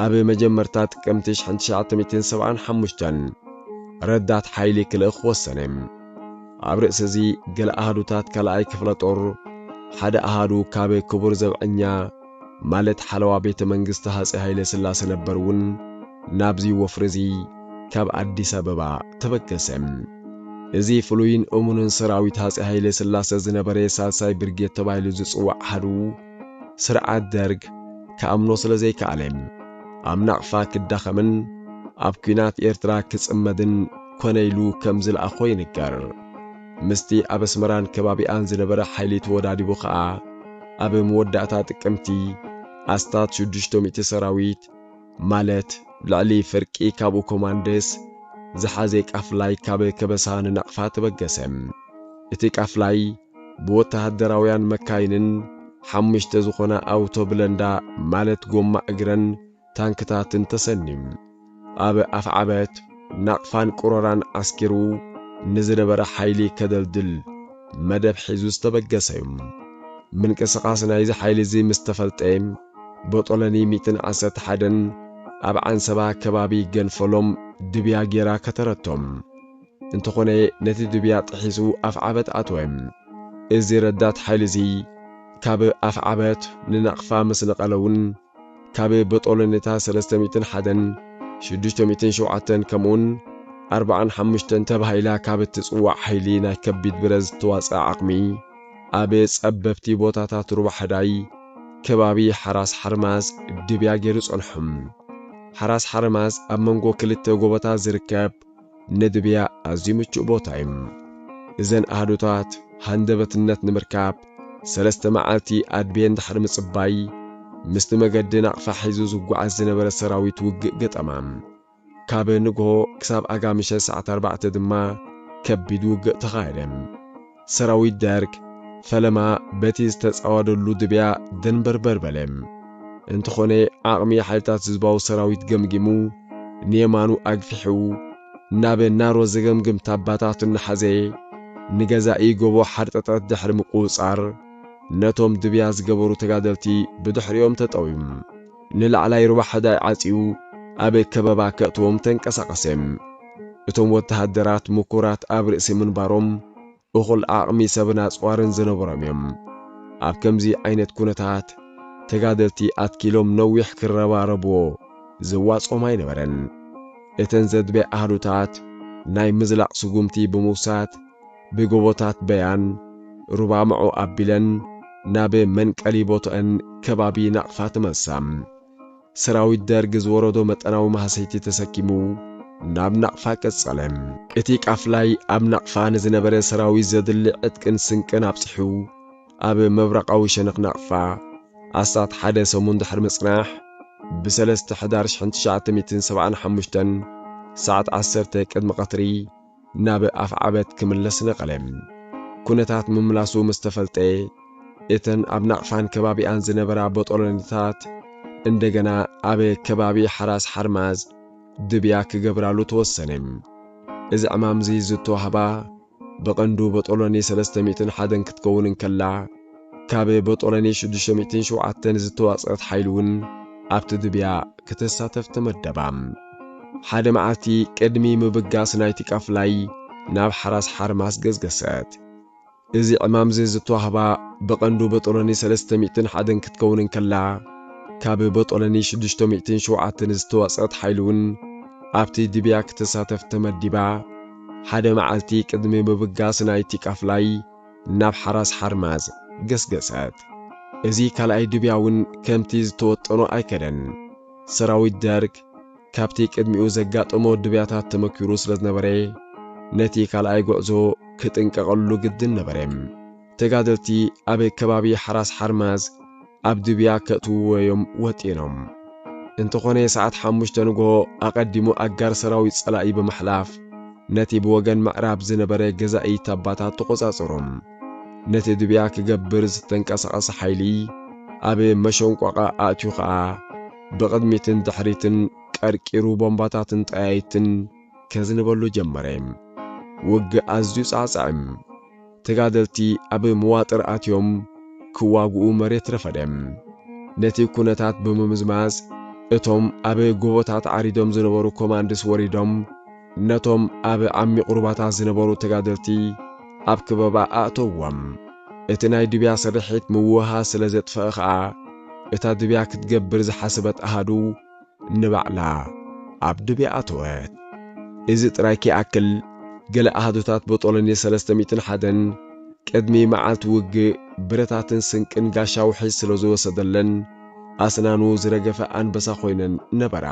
ኣብ መጀመርታ ጥቅምቲ ሽሕን ትሽዓተ-ሚእትን ሰብዓን ሓሙሽተን ረዳት ሓይሊ ክልእኽ ወሰነ። ኣብ ርእሲ እዚ ገለ ኣሃዱታት ካልኣይ ክፍለ-ጦር፣ ሓደ ኣሃዱ ካብ ክቡር ዘብዐኛ፣ ማለት ሓለዋ ቤተ መንግስቲ ሃፄ ሃይለስላሰ ነበር እውን ናብዚ ወፍሪ እዚ ካብ ኣዲስ ኣበባ ተበገሰ። እዚ ፍሉይን እሙንን ሰራዊት ሃፄ ሃይለስላሰ ዝነበረ ሳልሳይ ብርጌድ ተባሂሉ ዝፅዋዕ ኣሃዱ ስርዓት ደርግ ክኣምኖ ስለ ዘይከኣለ ኣብ ናቕፋ ክዳኸምን ኣብ ኲናት ኤርትራ ክፅመድን ኮነ ኢሉ ከም ዝለኣኾ ይንገር። ምስቲ ኣብ ኣስመራን ከባቢኣን ዝነበረ ሓይሊ ተወዳዲቡ ከኣ ኣብ መወዳእታ ጥቅምቲ ኣስታት ሽዱሽተ ሚእቲ ሰራዊት ማለት ልዕሊ ፍርቂ ካብኡ ኮማንደስ ዝሓዘ ቃፍላይ ካብ ከበሳ ንናቕፋ ተበገሰ። እቲ ቃፍላይ ብወተሃደራውያን መካይንን ሓሙሽተ ዝኾና ኣውቶ ብለንዳ ማለት ጎማ እግረን ታንክታት እንተሰኒ ኣብ ኣፍዓበት ናቕፋን ቁሮራን ዓስኪሩ ንዝነበረ ሓይሊ ከደልድል መደብ ሒዙ ዝተበገሰ'ዩ። ምንቅስቓስ ናይዚ ሓይሊ'ዚ ምስ ተፈልጠ ቦጦሎኒ ሚእትን ዓሰርተ ሓደን ኣብ ዓንሰባ ከባቢ ገንፈሎም ድብያ ጌራ ከተረቶም። እንተኾነ ነቲ ድብያ ጥሒሱ ኣፍዓበት ኣትወ። እዚ ረዳት ሓይሊ'ዚ ካብ ኣፍዓበት ንናቕፋ ምስ ነቐለ'ውን፣ ካብ በጦሎኒታት ሰለስተ ሚእትን ሓደን ሽዱሽተ ሚእትን ሸውዓተን ከምኡውን ኣርባዓን ሓሙሽተን ተባሂላ ካብ እትጽዋዕ ሓይሊ ናይ ከቢድ ብረት ዝተዋጽኣ ዓቕሚ ኣብ ጸበብቲ ቦታታት ሩባ ሕዳይ ከባቢ ሓራስ ሓርማዝ ድብያ ገይሩ ጸንሑ። ሓራስ ሓርማዝ ኣብ መንጎ ክልተ ጎቦታት ዝርከብ ንድብያ ኣዝዩ ምቹእ ቦታ እዩ። እዘን ኣሃዱታት ሃንደበትነት ንምርካብ ሰለስተ መዓልቲ ኣድብየን ድሕሪ ምጽባይ፣ ምስቲ መገዲ ናቕፋ ሒዙ ዝጓዓዝ ዝነበረ ሰራዊት ውግእ ገጠማ። ካብ ንግሆ ክሳብ ኣጋምሸት ሰዓት ኣርባዕተ ድማ ከቢድ ውግእ ተኻየደ። ሰራዊት ደርግ ፈለማ በቲ ዝተጻወደሉ ድብያ ደንበርበር በለ። እንተኾነ ዓቕሚ ሓይልታት ህዝባዊ ሰራዊት ገምጊሙ ንየማኑ ኣግፊሑ ናብ ናሮ ዘገምግም ታባታት እናሓዘ ንገዛኢ ጎቦ ሓርጠጠት ድሕሪ ምቁጽጻር ነቶም ድብያ ዝገበሩ ተጋደልቲ ብድሕሪኦም ተጠውዩ። ንላዕላይ ሩባ ሕዳይ ዓጽዩ ኣብ ከበባ ከእትዎም ተንቀሳቐሰ። እቶም ወተሃደራት ምኩራት ኣብ ርእሲ ምንባሮም እኹል ዓቕሚ ሰብን ኣጽዋርን ዝነበሮም እዮም። ኣብ ከምዚ ዓይነት ኩነታት ተጋደልቲ ኣትኪሎም ነዊሕ ክረባረቡዎ ዘዋጽኦም ኣይነበረን። እተን ዘድበያ ኣሃዱታት ናይ ምዝላቕ ስጉምቲ ብምውሳድ፣ ብጎቦታት በያን ሩባ መዖ ኣቢለን ናብ መንቀሊ ቦትኦን ከባቢ ናቕፋ ተመልሳ። ሰራዊት ደርግ ዝወረዶ መጠናዊ ማህሰይቲ ተሰኪሙ ናብ ናቕፋ ቀጸለ። እቲ ቃፍላይ ኣብ ናቕፋ ንዝነበረ ሰራዊት ዘድሊ ዕጥቅን ስንቅን ኣብጺሑ ኣብ ምብራቓዊ ሸነኽ ናቕፋ ኣስታት ሓደ ሰሙን ድሕሪ ምጽናሕ ብሰለስተ ሕዳር ሽሕን ትሽዓተ ሚእትን ሰብዓን ሓሙሽተን ሰዓት ዓሰርተ ቅድሚ ቀትሪ ናብ ኣፍዓበት ክምለስ ነቐለ። ኩነታት ምምላሱ ምስ ተፈልጠ፣ እተን ኣብ ናቕፋን ከባቢኣን ዝነበራ ቦጦሎኒታት እንደገና ኣብ ከባቢ ሓራስ ሓርማዝ ድብያ ክገብራሉ ተወሰነ። እዚ ዕማም'ዚ ዝተዋህባ ብቐንዱ ቦጦሎኒ ሰለስተ ሚእትን ሓደን ክትከውን እንከላ፣ ካብ በጦሎኒ ሽዱሽተ ሚእትን ሸውዓተን ዝተዋጽኣት ሓይሉውን ኣብቲ ድብያ ክትሳተፍ ተመደባ። ሓደ መዓልቲ ቅድሚ ምብጋስ ናይቲ ቃፍላይ ናብ ሓራስ ሓርማስ ገስገሰት። እዚ ዕማምዚ ዝተዋህባ ብቐንዱ በጦሎኒ ሰለስተ ሚእትን ሓደን ክትከውን እንከላ፣ ካብ በጦሎኒ ሽዱሽተ ሚእትን ሸውዓተን ዝተዋጽኣት ሓይሉውን ኣብቲ ድብያ ክትሳተፍ ተመዲባ ሓደ መዓልቲ ቅድሚ ምብጋስ ናይቲ ቃፍላይ ናብ ሓራስ ሓርማዝ ገስገሰት። እዚ ካልኣይ ድብያ እውን ከምቲ ዝተወጠኖ ኣይከደን። ሰራዊት ደርግ ካብቲ ቅድሚኡ ዘጋጠሞ ድብያታት ተመኲሩ ስለ ዝነበረ፣ ነቲ ካልኣይ ጉዕዞ ክጥንቀቐሉ ግድን ነበረ። ተጋደልቲ ኣብ ከባቢ ሓራስ ሓርማዝ፣ ኣብ ድብያ ከእትውዎ'ዮም ወጢኖም። እንተኾነ ሰዓት ሓሙሽተ ንግሆ ኣቐዲሙ ኣጋር ሰራዊት ጸላኢ ብምሕላፍ ነቲ ብወገን ምዕራብ ዝነበረ ገዛኢ ታባታት ተቖጻጸሮ። ነቲ ድብያ ክገብር ዝተንቀሳቐሰ ሓይሊ ኣብ መሸንቋቛ ኣእትዩ ከኣ ብቕድሚትን ድሕሪትን ቀርቂሩ ቦምባታትን ጠያይትን ከዝንበሉ ጀመረ። ውግእ ኣዝዩ ጻዕጻዕ'ዩ። ተጋደልቲ ኣብ መዋጥር ኣትዮም ክዋግኡ መሬት ረፈደ። ነቲ ኩነታት ብምምዝማዝ እቶም ኣብ ጎቦታት ዓሪዶም ዝነበሩ ኮማንድስ ወሪዶም ነቶም ኣብ ዓሚቕ ሩባታት ዝነበሩ ተጋደልቲ ኣብ ክበባ ኣእተውዎም። እቲ ናይ ድብያ ስርሒት ምውህሃ ስለ ዘጥፈኣ ከኣ እታ ድብያ ክትገብር ዝሓሰበት ኣሃዱ፣ ንባዕላ ኣብ ድብያ ኣተወት። እዚ ጥራይ ከይኣክል፣ ገለ ኣሃዱታት ቦጦሎኒ ሰለስተ ሚእትን ሓደን ቅድሚ መዓልቲ ውግእ ብረታትን ስንቅን ጋሻ ውሕጅ ስለ ዝወሰደለን ኣስናኑ ዝረገፈ ኣንበሳ ኮይነን ነበራ።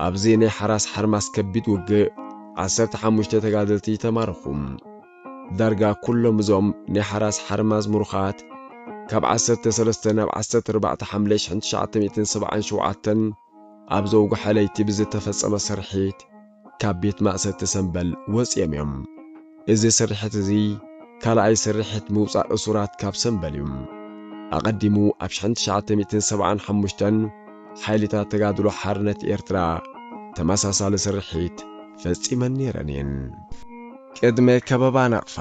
ኣብዚ ናይ ሓራስ ሓርማስ ከቢድ ውግእ ዓሰርተ ሓሙሽተ ተጋደልቲ ተማረኹ። ዳርጋ ኩሎም እዞም ናይ ሓራስ ሓርማዝ ምሩኻት ካብ ዓሰርተ ሰለስተ ናብ ዓሰርተ ኣርባዕተ ሓምለ ሽሕን ትሽዓተ ሚእትን ሰብዓን ሸውዓተን ኣብ ዘውግሐ ለይቲ ብዝተፈጸመ ስርሒት ካብ ቤት ማእሰርቲ ሰምበል ወጺኦም እዮም። እዚ ስርሒት እዚ ካልኣይ ስርሒት ምውጻእ እሱራት ካብ ሰምበል እዩ። ኣቐዲሙ ኣብ ሽሕን ትሽዓተ ሚእትን ሰብዓን ሓሙሽተን፣ ሓይልታት ተጋድሎ ሓርነት ኤርትራ ተመሳሳሊ ስርሒት ፈጺመን ነይረን እየን። ቅድመ ከበባ ናቕፋ፣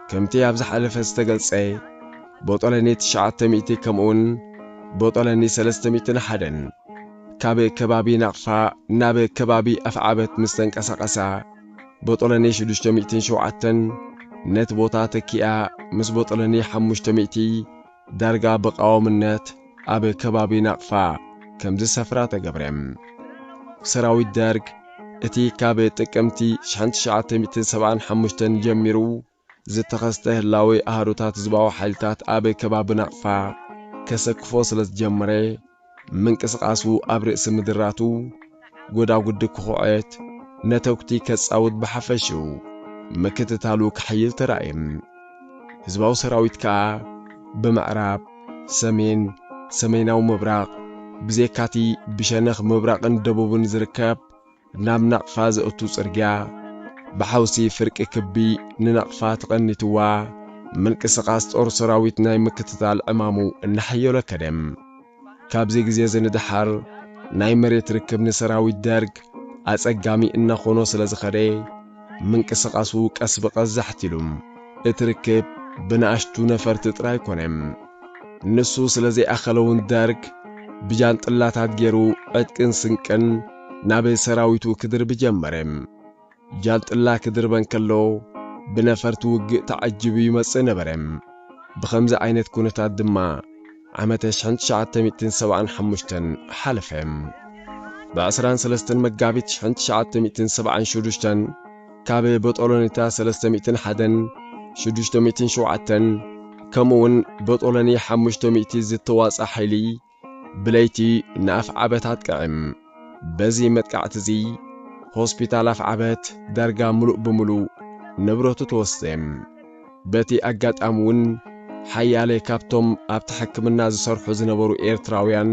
ከምቲ ኣብ ዝሓለፈ ዝተገልጸ፣ ቦጦሎኒ ትሽዓተ ሚእቲ ከምኡውን ቦጦሎኒ ሰለስተ ሚእትን ሓደን ካብ ከባቢ ናቕፋ ናብ ከባቢ ኣፍዓበት ምስ ተንቀሳቐሳ፣ ቦጦሎኒ ሽዱሽተ ሚእትን ሸውዓተን ነቲ ቦታ ተኪኣ ምስ ቦጦሎኒ ሓሙሽተ ሚእቲ፣ ዳርጋ ብቃወምነት ኣብ ከባቢ ናቕፋ ከም ዝሰፍራ ተገብረ። ሰራዊት ደርግ እቲ ካብ ጥቅምቲ ሽሕን ትሽዓተ ሚእትን ሰብዓን ሓሙሽተን ጀሚሩ ዝተኸስተ ህላዌ ኣሃዱታት ህዝባዊ ሓይልታት ኣብ ከባቢ ናቕፋ ከሰክፎ ስለ ዝጀመረ፣ ምንቅስቓሱ ኣብ ርእሲ ምድራቱ ጎዳጉዲ ክኹዕት፣ ነተጉቲ ከጻውት ብሓፈሽኡ ምክትታሉ ክሕይል ተራእየ። ህዝባዊ ሰራዊት ከኣ ብምዕራብ፣ ሰሜን፣ ሰሜናዊ ምብራቕ፣ ብዘይካቲ ብሸነኽ ምብራቕን ደቡብን ዝርከብ፣ ናብ ናቕፋ ዘእቱ ጽርግያ ብሓውሲ ፍርቂ ክቢ ንናቕፋ ተቐኒትዋ ምንቅስቓስ ጦር ሰራዊት ናይ ምክትታል ዕማሙ እናሓየሎ ከደ። ካብዚ ግዜዚ ንደሓር ናይ መሬት ርክብ ንሰራዊት ደርግ ኣጸጋሚ እናኾኖ ስለ ዝኸደ ምንቅስቓሱ ቀስ ብቐስ ዛሕቲሉ እቲ ርክብ ብናእሽቱ ነፈርቲ ጥራይ ኮነ። ንሱ ስለ ዘይኣኸለውን ደርግ ብጃንጥላታት ገይሩ ዕጥቅን ስንቅን ናብ ሰራዊቱ ክድርብ ጀመረ። ጃንጥላ ክድርበ እንከሎ ብነፈርቲ ውግእ ተዓጂቡ ይመጽእ ነበረ። ብኸምዚ ዓይነት ኩነታት ድማ ዓመተ ሽሕን ትሽዓተ ሚእትን ሰብዓን ሓሙሽተን ሓለፈ። ብዕስራን ሰለስተን መጋቢት ሽሕን ትሽዓተ ሚእትን ሰብዓን ሹዱሽተን ካብ በጦሎኒታ ሰለስተ ሚእትን ሓደን ሽዱሽተ ሚእትን ሸውዓተን ከምኡውን በጦሎኒ ሓሙሽተ ሚእቲ ዝተዋጽኣ ሓይሊ ብለይቲ ንኣፍዓበታት ቀዕም። በዚ መጥቃዕቲ'ዚ ሆስፒታል ኣፍዓበት ዳርጋ ምሉእ ብምሉእ ንብረቱ ተወስደ። በቲ ኣጋጣሚ'ውን ሓያለ ካብቶም ኣብቲ ሕክምና ዝሰርሑ ዝነበሩ ኤርትራውያን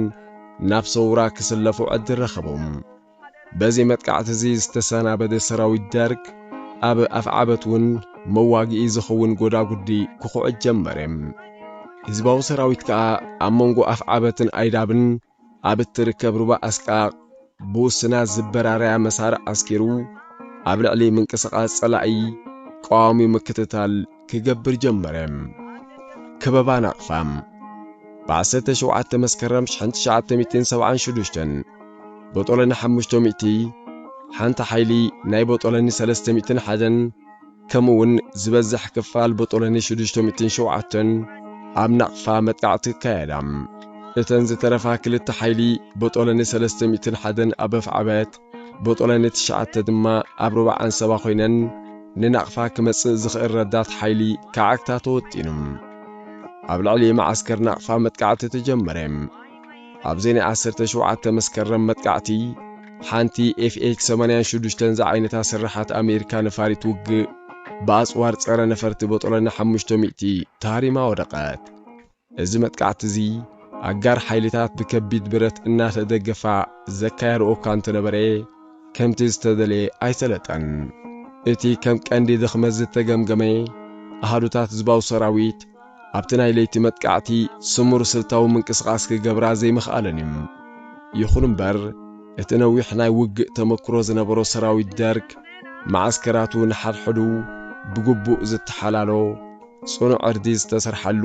ናብ ሰውራ ክስለፉ ዕድል ረኸቦም። በዚ መጥቃዕቲ'ዚ ዝተሰናበደ ሰራዊት ደርግ፣ ኣብ ኣፍዓበት'ውን መዋግኢ ዝኸውን ጎዳጉዲ ክኹዕት ጀመረ። ህዝባዊ ሰራዊት ከኣ ኣብ መንጎ ኣፍዓበትን ኣይዳብን ኣብ እትርከብ ሩባ ኣስቃቕ ብውሱናት ዝበራርያ መሳርዕ ኣስኪሩ ኣብ ልዕሊ ምንቅስቓስ ጸላኢ ቀዋሚ ምክትታል ክገብር ጀመረ። ከበባ ናቕፋ ብዓሰርተ ሸውዓተ መስከረም ሽሕን ትሽዓተ ሚእትን ሰብዓን ሹዱሽተን ቦጦሎኒ ሓሙሽተ ሚእቲ፣ ሓንቲ ሓይሊ ናይ ቦጦሎኒ ሰለስተ ሚእትን ሓደን፣ ከምኡውን ዝበዝሕ ክፋል ቦጦሎኒ ሽዱሽተ ሚእትን ሸውዓተን ኣብ ናቕፋ መጥቃዕቲ ክካየዳ። እተን ዝተረፋ ክልተ ሓይሊ ቦጦሎኒ ሰለስተ ሚእትን ሓደን ኣብ ኣፍዓበት ቦጦለ ንትሽዓተ ድማ ኣብ ሩባ ዓንሰባ ኮይነን ንናቕፋ ክመጽእ ዝኽእል ረዳት ሓይሊ ክዓግታ ተወጢኑ። ኣብ ልዕሊ መዓስከር ናቕፋ መጥቃዕቲ ተጀመረ። ኣብዚ ናይ ዓሰርተ ሸውዓተ መስከረም መጥቃዕቲ ሓንቲ ኤፍኤክ ሰማንያን ሽዱሽተን ዝዓይነታ ስርሓት ኣሜሪካ ነፋሪት ውግእ ብኣጽዋር ጸረ ነፈርቲ ቦጦለ ን ሓሙሽተ ሚእቲ ተሃሪማ ወደቐት። እዚ መጥቃዕቲ እዚ ኣጋር ሓይሊታት ብከቢድ ብረት እናተደገፋ ዘካየድኦ እኳ እንተነበረ ከምቲ ዝተደልየ ኣይሰለጠን። እቲ ከም ቀንዲ ድኽመት ዝተገምገመ ኣሃዱታት ህዝባዊ ሰራዊት ኣብቲ ናይ ለይቲ መጥቃዕቲ ስሙር ስልታዊ ምንቅስቓስ ክገብራ ዘይምኽኣለን እዩ። ይኹን እምበር እቲ ነዊሕ ናይ ውግእ ተመክሮ ዝነበሮ ሰራዊት ደርግ መዓስከራቱ ንሓድሕዱ ብግቡእ ዝተሓላሎ፣ ጽኑዕ ዕርዲ ዝተሰርሓሉ፣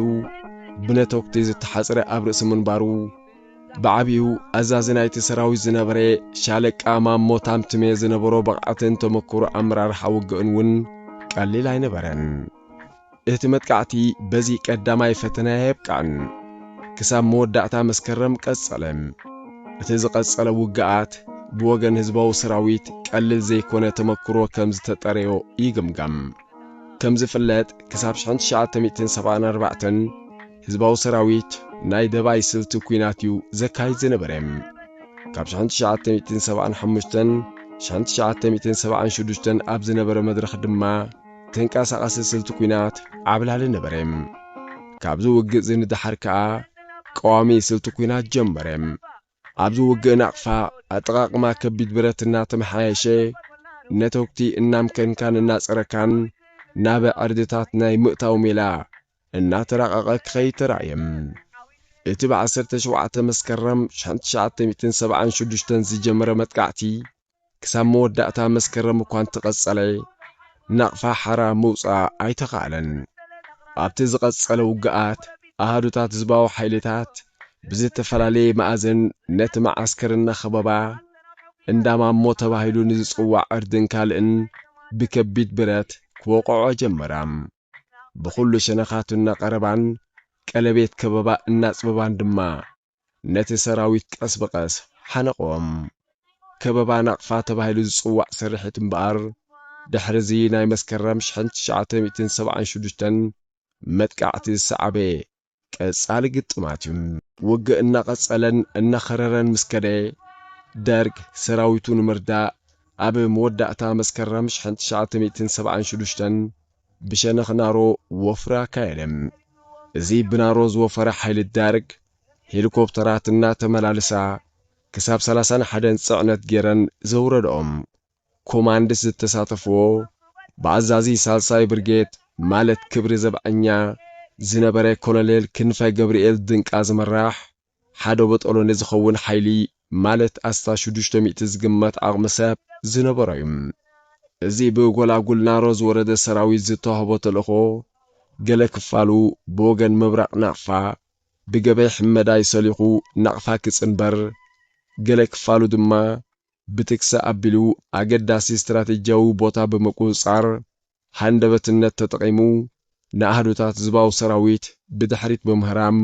ብነተጉቲ ዝተሓጽረ ኣብ ርእሲ ምንባሩ፣ ብዓቢኡ ኣዛዚ ናይቲ ሰራዊት ዝነበረ ሻለቃ ማሞ ታምትሜ ዝነበሮ ብቕዓትን ተመክሮ ኣመራርሓ ውግእን እውን ቀሊል ኣይነበረን። እቲ መጥቃዕቲ በዚ ቀዳማይ ፈተነ ኣየብቅዐን። ክሳብ መወዳእታ መስከረም ቀጸለ። እቲ ዝቐጸለ ውግኣት ብወገን ህዝባዊ ሰራዊት ቀሊል ዘይኮነ ተመክሮ ከም ዝተጠረዮ ይግምገም። ከም ዝፍለጥ ክሳብ ሽሕን ትሽዓተ ሚእትን ሰብዓን ኣርባዕተን ህዝባዊ ሰራዊት ናይ ደባይ ስልቲ ኩናት እዩ ዘካይድ ዝነበረ። ካብ ሽሕን ትሽዓተ ሚእትን ሰብዓን ሓሙሽተን ሽሕን ትሽዓተ ሚእትን ሰብዓን ሽዱሽተን ኣብ ዝነበረ መድረኽ ድማ ተንቀሳቓሲ ስልቲ ኩናት ዓብላሊ ነበረ። ካብዚ ውግእዚ ንደሓር ከኣ ቀዋሚ ስልቲ ኩናት ጀመረ። ኣብዚ ውግእ ናቕፋ ኣጠቓቕማ ከቢድ ብረት እናተመሓየሸ፣ ነተጉቲ እናምከንካን እናጸረካን ናብ ዕርድታት ናይ ምእታው ሜላ እናተራቐቐ ክኸይድ ተራእየ። እቲ ብ ዓሰርተ ሸውዓተ መስከረም ሽሕን ትሽዓተ ሚእትን ሰብዓን ሽዱሽተን ዝጀመረ መጥቃዕቲ፣ ክሳብ መወዳእታ መስከረም እኳ እንተቐጸለ፣ ናቕፋ ሓራ ምውጻእ ኣይተኻእለን። ኣብቲ ዝቐጸለ ውግኣት፣ ኣሃዱታት ህዝባዊ ሓይልታት ብዝተፈላለየ መኣዝን ነቲ መዓስከር እናኸበባ፣ እንዳ ማሞ ተባሂሉ ንዝጽዋዕ ዕርድን ካልእን ብከቢድ ብረት ክወቕዕኦ ጀመራ። ብኹሉ ሸነኻቱ እናቐረባን ቀለቤት ከበባ እናጽበባን ድማ፣ ነቲ ሰራዊት ቀስ ብቐስ ሓነቖም። ከበባ ናቕፋ ተባሂሉ ዝጽዋዕ ስርሒት እምበኣር፣ ድሕሪ'ዚ ናይ መስከረም ሽሕን ትሽዓተ ሚእትን ሰብዓን ሽዱሽተን መጥቃዕቲ ዝሰዓበ ቀጻሊ ግጥማት'ዩ። ውግእ እናቐጸለን እናኸረረን ምስ ከደ፣ ደርግ ሰራዊቱ ንምርዳእ ኣብ መወዳእታ መስከረም ሽሕን ትሽዓተ ሚእትን ሰብዓን ሽዱሽተን ብሸነኽ ናሮ ወፍሪ ኣካየደ። እዚ ብናሮ ዝወፈረ ሓይሊ ዳርግ ሄሊኮፕተራት እናተመላልሳ ክሳብ ሰላሳን ሓደን ፅዕነት ገይረን ዘውረድኦም ኮማንድስ ዝተሳተፍዎ ብኣዛዚ ሳልሳይ ብርጌድ ማለት ክብሪ ዘብዐኛ ዝነበረ ኮሎኔል ክንፈ ገብርኤል ድንቃ ዝምራሕ ሓደ በጦሎኒ ዝኸውን ሓይሊ ማለት ኣስታት ሽዱሽተ ሚእቲ ዝግመት ዓቕሚ ሰብ ዝነበሮ እዩ። እዚ ብጎላጉል ናሮ ዝወረደ ሰራዊት ዝተዋህቦ ተልእኾ ገለ ክፋሉ ብወገን ምብራቕ ናቕፋ ብገበይ ሕመዳይ ሰሊኹ ናቕፋ ክጽንበር ገለ ክፋሉ ድማ ብትክሰ ኣቢሉ ኣገዳሲ ስትራቴጂያዊ ቦታ ብምቁጽጻር ሃንደበትነት ተጠቒሙ ንኣሃዱታት ዝባዊ ሰራዊት ብድሕሪት ብምህራም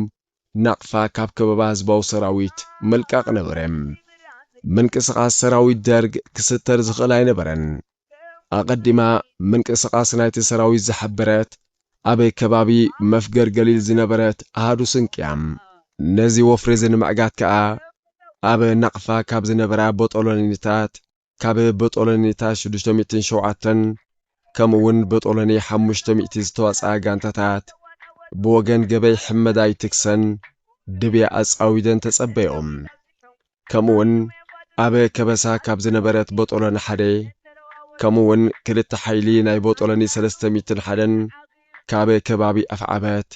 ናቕፋ ካብ ከበባ ህዝባዊ ሰራዊት ምልቃቕ ነበረ። ምንቅስቓስ ሰራዊት ደርግ ክስተር ዝኽእል ኣይነበረን። ኣቐዲማ ምንቅስቓስ ናይቲ ሰራዊት ዝሓበረት ኣብ ከባቢ መፍገር ገሊል ዝነበረት ኣሃዱ ስንቅ እያ። ነዚ ወፍሪ'ዚ ንምዕጋት ከኣ ኣብ ናቕፋ ካብ ዝነበራ ቦጦሎኒታት፣ ካብ በጦሎኒታት ሽዱሽተ ሚእትን ሸውዓተን ከምኡ ውን በጦሎኒ ሓሙሽተ ሚእቲ ዝተዋጽኣ ጋንታታት ብወገን ገበይ ሕመዳይ ትክሰን ድብያ ኣጻዊደን ተጸበዮም። ከምኡ ውን ኣብ ከበሳ ካብ ዝነበረት በጦሎኒ ሓደ ከምኡ ውን ክልተ ሓይሊ ናይ በጦሎኒ ሰለስተ ሚእትን ሓደን ካብ ከባቢ ኣፍዓበት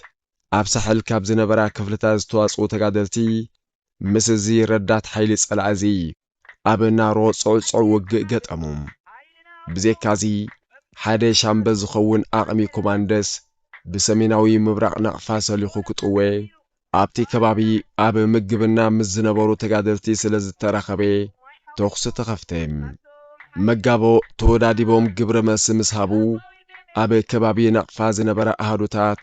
ኣብ ሳሕል ካብ ዝነበራ ክፍልታት ዝተዋጽኡ ተጋደልቲ ምስ እዚ ረዳት ሓይሊ ጸላኢ እዚ ኣብ ናሮ ጽዕጹዕ ውግእ ገጠሙ። ብዜካዚ፣ ሓደ ሻምበ ዝኸውን ኣቕሚ ኮማንደስ ብሰሜናዊ ምብራቕ ናቕፋ ሰሊኹ ክጥወ፣ ኣብቲ ከባቢ ኣብ ምግብና ምስ ዝነበሩ ተጋደልቲ ስለ ዝተራኸበ፣ ተኹሲ ተኸፍተ። መጋቦ ተወዳዲቦም ግብረ መልሲ ምስ ሃቡ፣ ኣብ ከባቢ ናቕፋ ዝነበራ ኣሃዱታት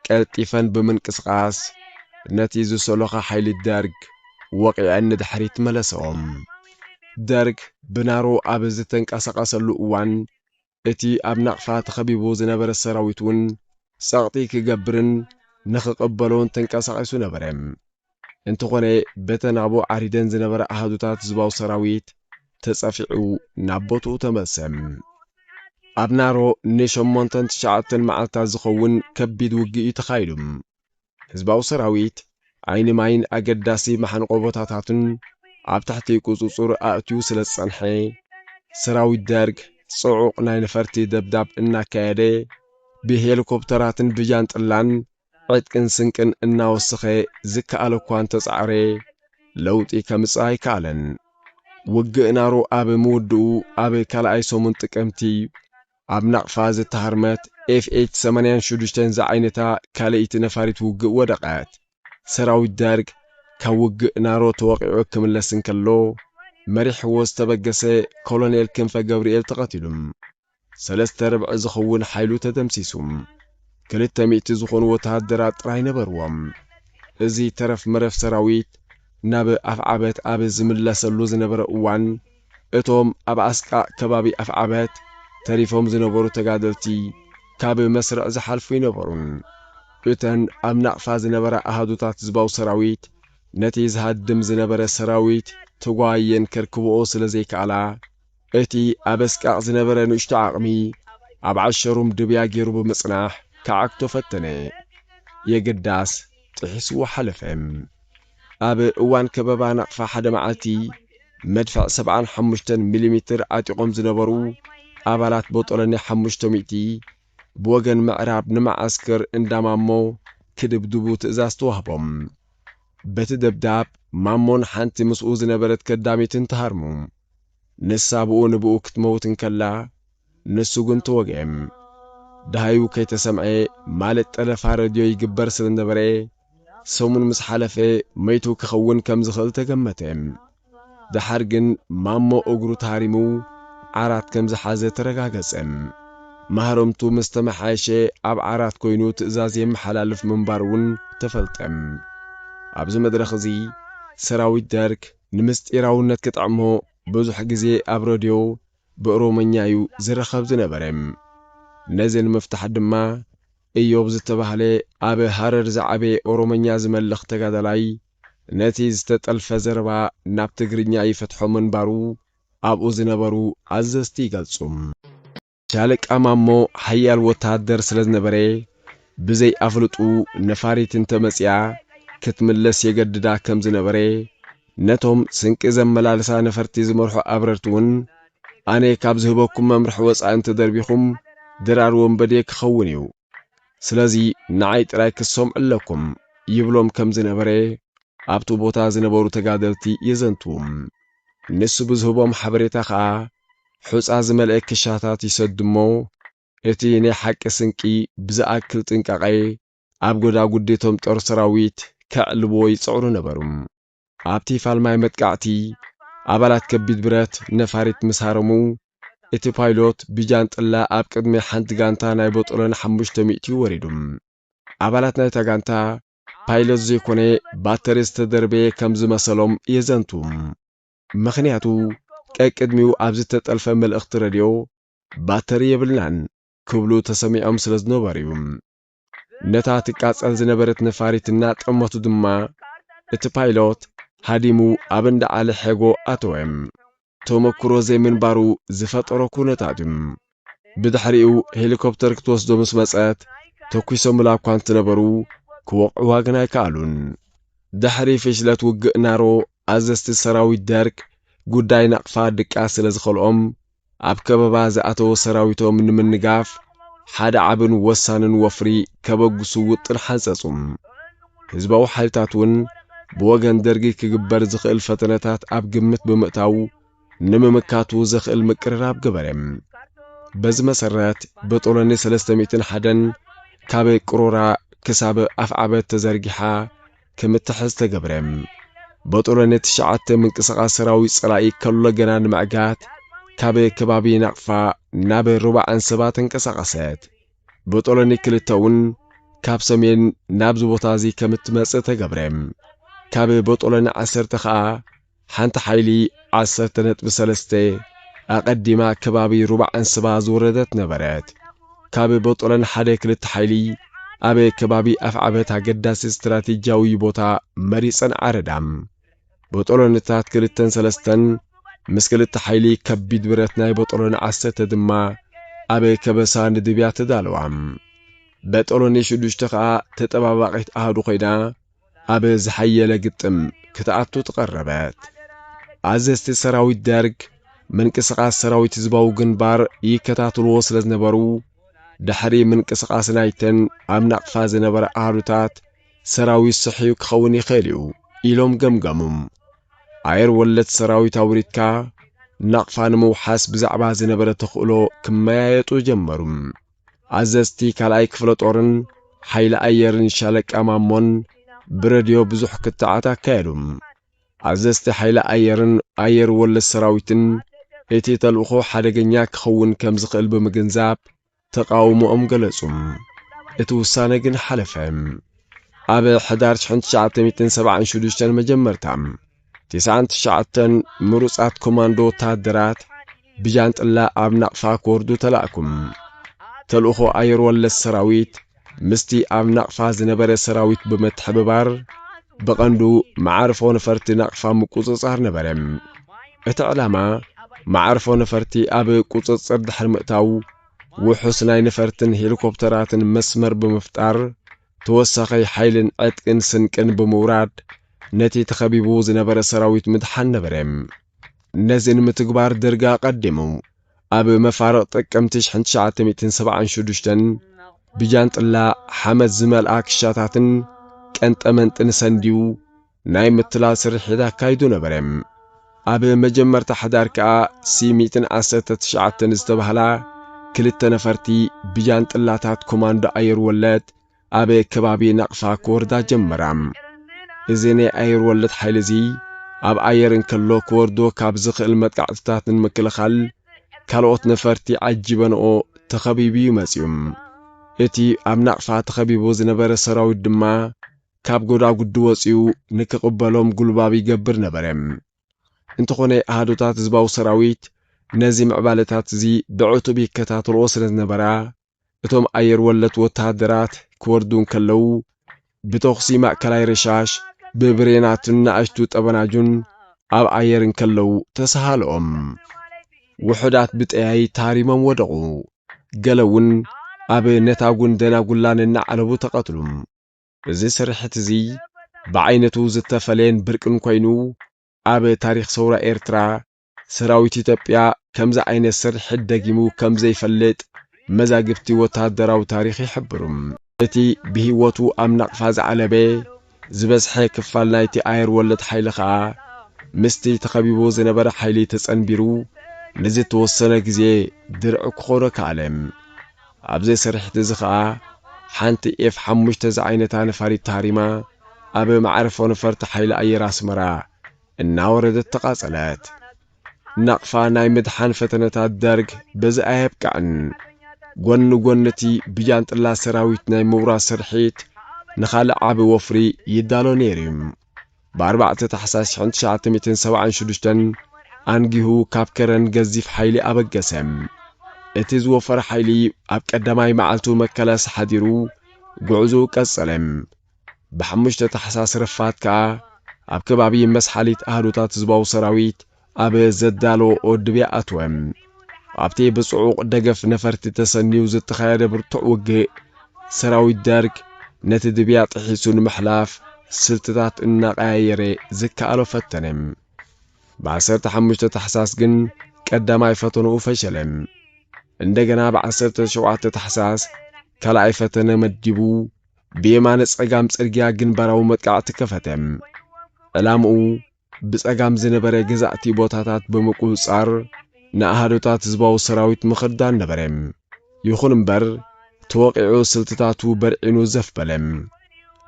ቀልጢፈን ብምንቅስቓስ ነቲ ዝሰሎኻ ሓይሊ ደርግ ወቒዐን ንድሕሪት መለሰኦም። ደርግ ብናሮ ኣብ ዝተንቀሳቐሰሉ እዋን እቲ ኣብ ናቕፋ ተኸቢቡ ዝነበረ ሰራዊት'ውን ጸቕጢ ክገብርን ንኽቕበሎን ተንቀሳቒሱ ነበረ። እንተኾነ በተን ኣብኡ ዓሪደን ዝነበራ ኣሃዱታት ህዝባዊ ሰራዊት ተጸፊዑ ናብ ቦትኡ ተመልሰ። ኣብ ናሮ ንሸሞንተን ትሽዓተን መዓልታት ዝኸውን ከቢድ ውግእ እዩ ተኻይዱ። ህዝባዊ ሰራዊት ዓይኒ ማይን ኣገዳሲ መሓንቖ ቦታታትን ኣብ ትሕቲ ቁጽጽሩ ኣእትዩ ስለ ዝጸንሐ፣ ሰራዊት ደርግ ጽዑቕ ናይ ነፈርቲ ደብዳብ እናካየደ ብሄሊኮፕተራትን ብጃንጥላን ዕጥቅን ስንቅን እናወሰኸ ዝከኣሎ እኳ እንተጻዕረ ለውጢ ከምጽእ ኣይከኣለን። ውግእ ናሩ ኣብ ምውድኡ ኣብ ካልኣይ ሰሙን ጥቅምቲ ኣብ ናቕፋ ዝተሃርመት ኤፍኤች ሰማንያን ሽዱሽተን ዝዓይነታ ካልኣይቲ ነፋሪት ውግእ ወደቐት። ሰራዊት ደርግ ካብ ውግእ ናሮ ተወቒዑ ክምለስ እንከሎ መሪሕዎ ዝተበገሰ ኮሎኔል ክንፈ ገብርኤል ተቐቲሉ። ሰለስተ ርብዒ ዝኸውን ሓይሉ ተደምሲሱ ክልተ ሚእቲ ዝኾኑ ወተሃደራት ጥራይ ነበርዎም። እዚ ተረፍ መረፍ ሰራዊት ናብ ኣፍዓበት ኣብ ዝምለሰሉ ዝነበረ እዋን እቶም ኣብ ኣስቃ ከባቢ ኣፍዓበት ተሪፎም ዝነበሩ ተጋደልቲ ካብ መስርዕ ዝሓልፉ ኣይነበሩን። እተን ኣብ ናቕፋ ዝነበራ ኣሃዱታት ህዝባዊ ሰራዊት ነቲ ዝሃድም ዝነበረ ሰራዊት ተጓይየን ከርክብኦ ስለ ዘይከኣላ እቲ ኣብ ኣስቃቕ ዝነበረ ንእሽቶ ዓቕሚ፣ ኣብ ዓሸሩም ድብያ ገይሩ ብምጽናሕ ክዓግቶ ፈተነ። የግዳስ፣ ጥሒስዎ ሓለፈ። ኣብ እዋን ከበባ ናቕፋ ሓደ መዓልቲ፣ መድፍዕ ሰብዓን ሓሙሽተን ሚሊሚትር ዓጢቖም ዝነበሩ ኣባላት ቦጦሎኒ ሓሙሽተ ሚእቲ፣ ብወገን ምዕራብ ንመዓስከር እንዳ ማሞ ክድብድቡ ትእዛዝ ተዋህቦም። በቲ ደብዳብ፣ ማሞን ሓንቲ ምስኡ ዝነበረት ከዳሚትን ተሃርሙ። ንሳ ብኡ ንብኡ ክትመውት እንከላ ንሱ ግን ተወግዔም። ደሃዩ ከይተሰምዔ ማለት ጠለፋ ረድዮ ይግበር ስለ ነበረ ሰሙን ምስ ሓለፈ መይቱ ክኸውን ከም ዝኽእል ተገመተ። ደሓር ግን ማሞ እግሩ ተሃሪሙ ዓራት ከም ዝሓዘ ተረጋገጸ። ማህረምቱ ምስ ተመሓየሸ ኣብ ዓራት ኮይኑ ትእዛዝ የመሓላልፍ ምንባሩ'ውን ተፈልጠ። ኣብዚ መድረኽ እዚ ሰራዊት ደርግ፣ ንምስጢራውነት ክጥዕሞ ብዙሕ ግዜ ኣብ ረድዮ ብእሮመኛ እዩ ዝርኸብ ዝነበረ። ነዚ ንምፍታሕ ድማ እዮብ ዝተባህለ ኣብ ሃረር ዝዓበየ ኦሮመኛ ዝመልኽ ተጋዳላይ ነቲ ዝተጠልፈ ዘረባ ናብ ትግርኛ ይፈትሖ ምንባሩ ኣብኡ ዝነበሩ ኣዘዝቲ ይገልጹ። ሻለቃ ማሞ ሓያል ወተሃደር ስለ ዝነበረ፣ ብዘይ ኣፍልጥኡ ነፋሪት እንተ መጺኣ ክትምለስ የገድዳ ከም ዝነበረ፣ ነቶም ስንቂ ዘመላልሳ ነፈርቲ ዝመርሑ ኣብረርቲ ውን፣ ኣነ ካብ ዝህበኩም መምርሒ ወጻኢ እንተ ደርቢኹም፣ ድራር ወንበዴ ክኸውን እዩ። ስለዚ ንዓይ ጥራይ ክትሰምዑ ኣለኩም። ይብሎም ከም ዝነበረ ኣብቲ ቦታ ዝነበሩ ተጋደልቲ የዘንትዉ። ንሱ ብዝህቦም ሓበሬታ ከኣ ሑጻ ዝመልኤ ክሻታት ይሰድ'ሞ፣ እቲ ናይ ሓቂ ስንቂ ብዝኣክል ጥንቃቐ ኣብ ጎዳጉዲ'ቶም ጦር ሰራዊት ከዕልቡዎ ይጽዕሩ ነበሩ። ኣብቲ ፋልማይ መጥቃዕቲ፣ ኣባላት ከቢድ ብረት ነፋሪት ምስ ሃረሙ፣ እቲ ፓይሎት ብጃንጥላ ኣብ ቅድሚ ሓንቲ ጋንታ ናይ ቦጦሎኒ ሓሙሽተ ሚእቲ ወሪዱ። ኣባላት ናይታ ጋንታ፣ ፓይሎት ዘይኮነ ባተሪ ዝተደርበየ ከም ዝመሰሎም የዘንቱ። ምኽንያቱ ቀቅድሚኡ ኣብ ዝተጠልፈ መልእኽቲ ረድዮ ባተሪ የብልናን ክብሉ ተሰሚዖም ስለ ዝነበሩ'ዩ። ነታ ትቃጸል ዝነበረት ነፋሪት እናጠመቱ ድማ እቲ ፓይሎት ሃዲሙ ኣብ እንዳ ዓሊ ሐጎ ኣተወ። ተመኩሮ ዘይምንባሩ ዝፈጠሮ ኩነታት'ዩ። ብድሕሪኡ ሄሊኮፕተር ክትወስዶ ምስ መጸት ተኲሶምላ እኳ እንትነበሩ ክወቕዕዋ ግን ኣይከኣሉን። ድሕሪ ፍሽለት ውግእ ናሮ ኣዘዝቲ ሰራዊት ደርግ ጉዳይ ናቕፋ ድቃስ ስለ ዝኸልኦም ኣብ ከበባ ዝኣተወ ሰራዊቶም ንምንጋፍ ሓደ ዓብን ወሳንን ወፍሪ ከበግሱ ውጥን ሓንጸጹ። ህዝባዊ ሓይልታት እውን ብወገን ደርጊ ክግበር ዝኽእል ፈተነታት ኣብ ግምት ብምእታው ንምምካቱ ዘኽእል ምቅርራብ ገበረ። በዚ መሰረት ብጦለኒ ሰለስተ ሚእትን ሓደን ካብ ቅሮራ ክሳብ ኣፍዓበት ተዘርጊሓ ክምትሕዝ ተገብረ። ብጦለኒ ትሽዓተ ምንቅስቓስ ሰራዊት ጸላኢ ከሎ ገና ንምዕጋት ካብ ከባቢ ናቕፋ ናብ ሩባ ዓንሰባ ተንቀሳቐሰት። ብጦለኒ ክልተ እውን ካብ ሰሜን ናብዚ ቦታ እዚ ከም እትመጽእ ተገብረ። ካብ ብጦለኒ ዓሰርተ ከኣ ሓንቲ ሓይሊ ዓሰርተ ነጥቢ ሰለስተ ኣቐዲማ ከባቢ ሩባ ዓንስባ ዝወረደት ነበረት። ካብ ቦጦለን ሓደ ክልተ ሓይሊ ኣብ ከባቢ ኣፍዓበት ኣገዳሲ ስትራቴጂያዊ ቦታ መሪጸን ዓረዳ። ቦጦለንታት ክልተን ሰለስተን ምስ ክልተ ሓይሊ ከቢድ ብረት ናይ ቦጦሎኒ ዓሰርተ ድማ ኣብ ከበሳ ንድብያ ተዳለዋ። በጦሎኒ ሽዱሽተ ከኣ ተጠባባቒት ኣሃዱ ኮይና፣ ኣብ ዝሓየለ ግጥም ክትኣቱ ተቐረበት። ኣዘዝቲ ሰራዊት ደርግ ምንቅስቓስ ሰራዊት ህዝባዊ ግንባር ይከታትልዎ ስለ ዝነበሩ ድሕሪ ምንቅስቓስ ናይተን ኣብ ናቕፋ ዝነበረ ኣሃዱታት ሰራዊት ስሕዩ ክኸውን ይኽእል እዩ ኢሎም ገምገሙም። ኣየር ወለድ ሰራዊት ኣውሪድካ ናቕፋ ንምውሓስ ብዛዕባ ዝነበረ ተኽእሎ ክመያየጡ ጀመሩ። ኣዘዝቲ ካልኣይ ክፍለ ጦርን ሓይሊ ኣየርን ሻለቃ ማሞን ብረድዮ ብዙሕ ክትዓት ኣካየዱ። ኣዘዝቲ ሓይሊ ኣየርን ኣየር ወለድ ሰራዊትን እቲ ተልእኾ ሓደገኛ ክኸውን ከም ዝኽእል ብምግንዛብ ተቓውሞኦም ገለጹ። እቲ ውሳነ ግን ሓለፈ። ኣብ ሕዳር 1976 መጀመርታ ትስዓን ትሽዓተን ምሩጻት ኮማንዶ ወተሃደራት ብጃንጥላ ኣብ ናቕፋ ክወርዱ ተላእኩም። ተልእኾ ኣየር ወለድ ሰራዊት ምስቲ ኣብ ናቕፋ ዝነበረ ሰራዊት ብምትሕብባር ብቐንዱ መዓርፎ ነፈርቲ ናቕፋ ምቁጽጻር ነበረ። እቲ ዕላማ መዓርፎ ነፈርቲ ኣብ ቁጽጽር ድሕሪ ምእታው ውሑስ ናይ ነፈርትን ሄሊኮፕተራትን መስመር ብምፍጣር ተወሳኺ ሓይልን ዕጥቅን ስንቅን ብምውራድ ነቲ ተኸቢቡ ዝነበረ ሰራዊት ምድሓን ነበረ። ነዚ ንምትግባር ደርጊ ኣቐዲሙ ኣብ መፋርቕ ጥቅምቲ ሽሕን ትሽዓተ ሚእትን ሰብዓን ሽዱሽተን ብጃንጥላ ሓመድ ዝመልኣ ክሻታትን ቀንጠመንጥን ሰንድዩ ናይ ምትላል ስርሒት ኣካይዱ ነበረ። ኣብ መጀመርታ ሓዳር ከኣ ሲሚትን ዓሰርተ ትሽዓተን ዝተባህላ ክልተ ነፈርቲ ብጃንጥላታት ኮማንዶ ኣየር ወለድ ኣብ ከባቢ ናቕፋ ክወርዳ ጀመራ። እዚ ናይ ኣየር ወለድ ሓይሊ እዚ ኣብ ኣየር እንከሎ ክወርዶ ካብ ዝኽእል መጥቃዕትታት ንምክልኻል ካልኦት ነፈርቲ ዓጂበንኦ ተኸቢቡ እዩ መጺኡ። እቲ ኣብ ናቕፋ ተኸቢቡ ዝነበረ ሰራዊት ድማ ካብ ጎዳጉዲ ወጺኡ ንክቕበሎም ጉልባብ ይገብር ነበረ። እንተኾነ ኣሃዱታት ህዝባዊ ሰራዊት ነዚ ምዕባለታት'ዚ ብዕቱብ ይከታተልኦ ስለ ዝነበራ፣ እቶም ኣየር ወለድ ወተሃደራት ክወርዱ እንከለዉ፣ ብተኹሲ ማእከላይ ረሻሽ፣ ብብሬናትን ናእሽቱ ጠበናጁን ኣብ ኣየር እንከለዉ ተሰሃልኦም። ውሑዳት ብጠያይት ተሃሪሞም ወደቑ። ገለ'ውን ኣብ ነታጉን ደናጉላን እናዓለቡ ተቐትሉ። እዚ ስርሒት እዚ ብዓይነቱ ዝተፈለየን ብርቅን ኮይኑ ኣብ ታሪኽ ሰውራ ኤርትራ ሰራዊት ኢትዮጵያ ከምዚ ዓይነት ስርሒት ደጊሙ ከም ዘይፈልጥ መዛግብቲ ወተሃደራዊ ታሪኽ ይሕብሩ። እቲ ብሂወቱ ኣብ ናቕፋ ዝዓለበ ዝበዝሐ ክፋል ናይቲ ኣየር ወለድ ሓይሊ ከኣ ምስቲ ተኸቢቡ ዝነበረ ሓይሊ ተጸንቢሩ ንዝተወሰነ ግዜ ድርዒ ክኾኖ ከኣለ። ኣብዚ ስርሒት እዚ ከኣ ሓንቲ ኤፍ ሓሙሽተ ዝዓይነታ ነፋሪት ተሃሪማ ኣብ መዕርፎ ነፈርቲ ሓይሊ ኣየር ኣስመራ እናወረደት ተቓጸለት። ናቕፋ ናይ ምድሓን ፈተነታት ደርግ በዚ ኣየብቅዕን። ጎኒ ጎኒ እቲ ብጃንጥላ ሰራዊት ናይ ምውራድ ስርሒት ንኻልእ ዓቢ ወፍሪ ይዳሎ ነይሩ እዩ። ብኣርባዕተ ታሕሳስ ሽሕን ትሽዓተ ሚእትን ሰብዓን ሽዱሽተን ኣንጊሁ ካብ ከረን ገዚፍ ሓይሊ ኣበገሰ። እቲ ዝወፈረ ሓይሊ ኣብ ቀዳማይ መዓልቱ መከላስ ሓዲሩ ጉዕዞኡ ቀጸለ። ብሓሙሽተ ታሕሳስ ረፋድ ከኣ ኣብ ከባቢ መስሓሊት ኣሃዱታት ህዝባዊ ሰራዊት ኣብ ዘዳለወኦ ድብያ ኣትወ። ኣብቲ ብጽዑቕ ደገፍ ነፈርቲ ተሰንዩ ዝተኻየደ ብርቱዕ ውግእ፣ ሰራዊት ደርግ ነቲ ድብያ ጥሒሱ ንምሕላፍ ስልትታት እናቐያየረ ዝከኣሎ ፈተነ። ብዓሰርተ ሓሙሽተ ታሕሳስ ግን ቀዳማይ ፈተንኡ ፈሸለ። እንደገና ብዓሰርተ ሸውዓተ ታሕሳስ ካልኣይ ፈተነ መዲቡ ብየማነ ጸጋም ጽርግያ ግንባራዊ መጥቃዕቲ ከፈተ። ዕላምኡ ብጸጋም ዝነበረ ገዛእቲ ቦታታት ብምቁንጻር ንኣሃዱታት ህዝባዊ ሰራዊት ምክርዳን ነበረ። ይኹን እምበር ተወቒዑ ስልትታቱ በርዒኑ ዘፍ በለ።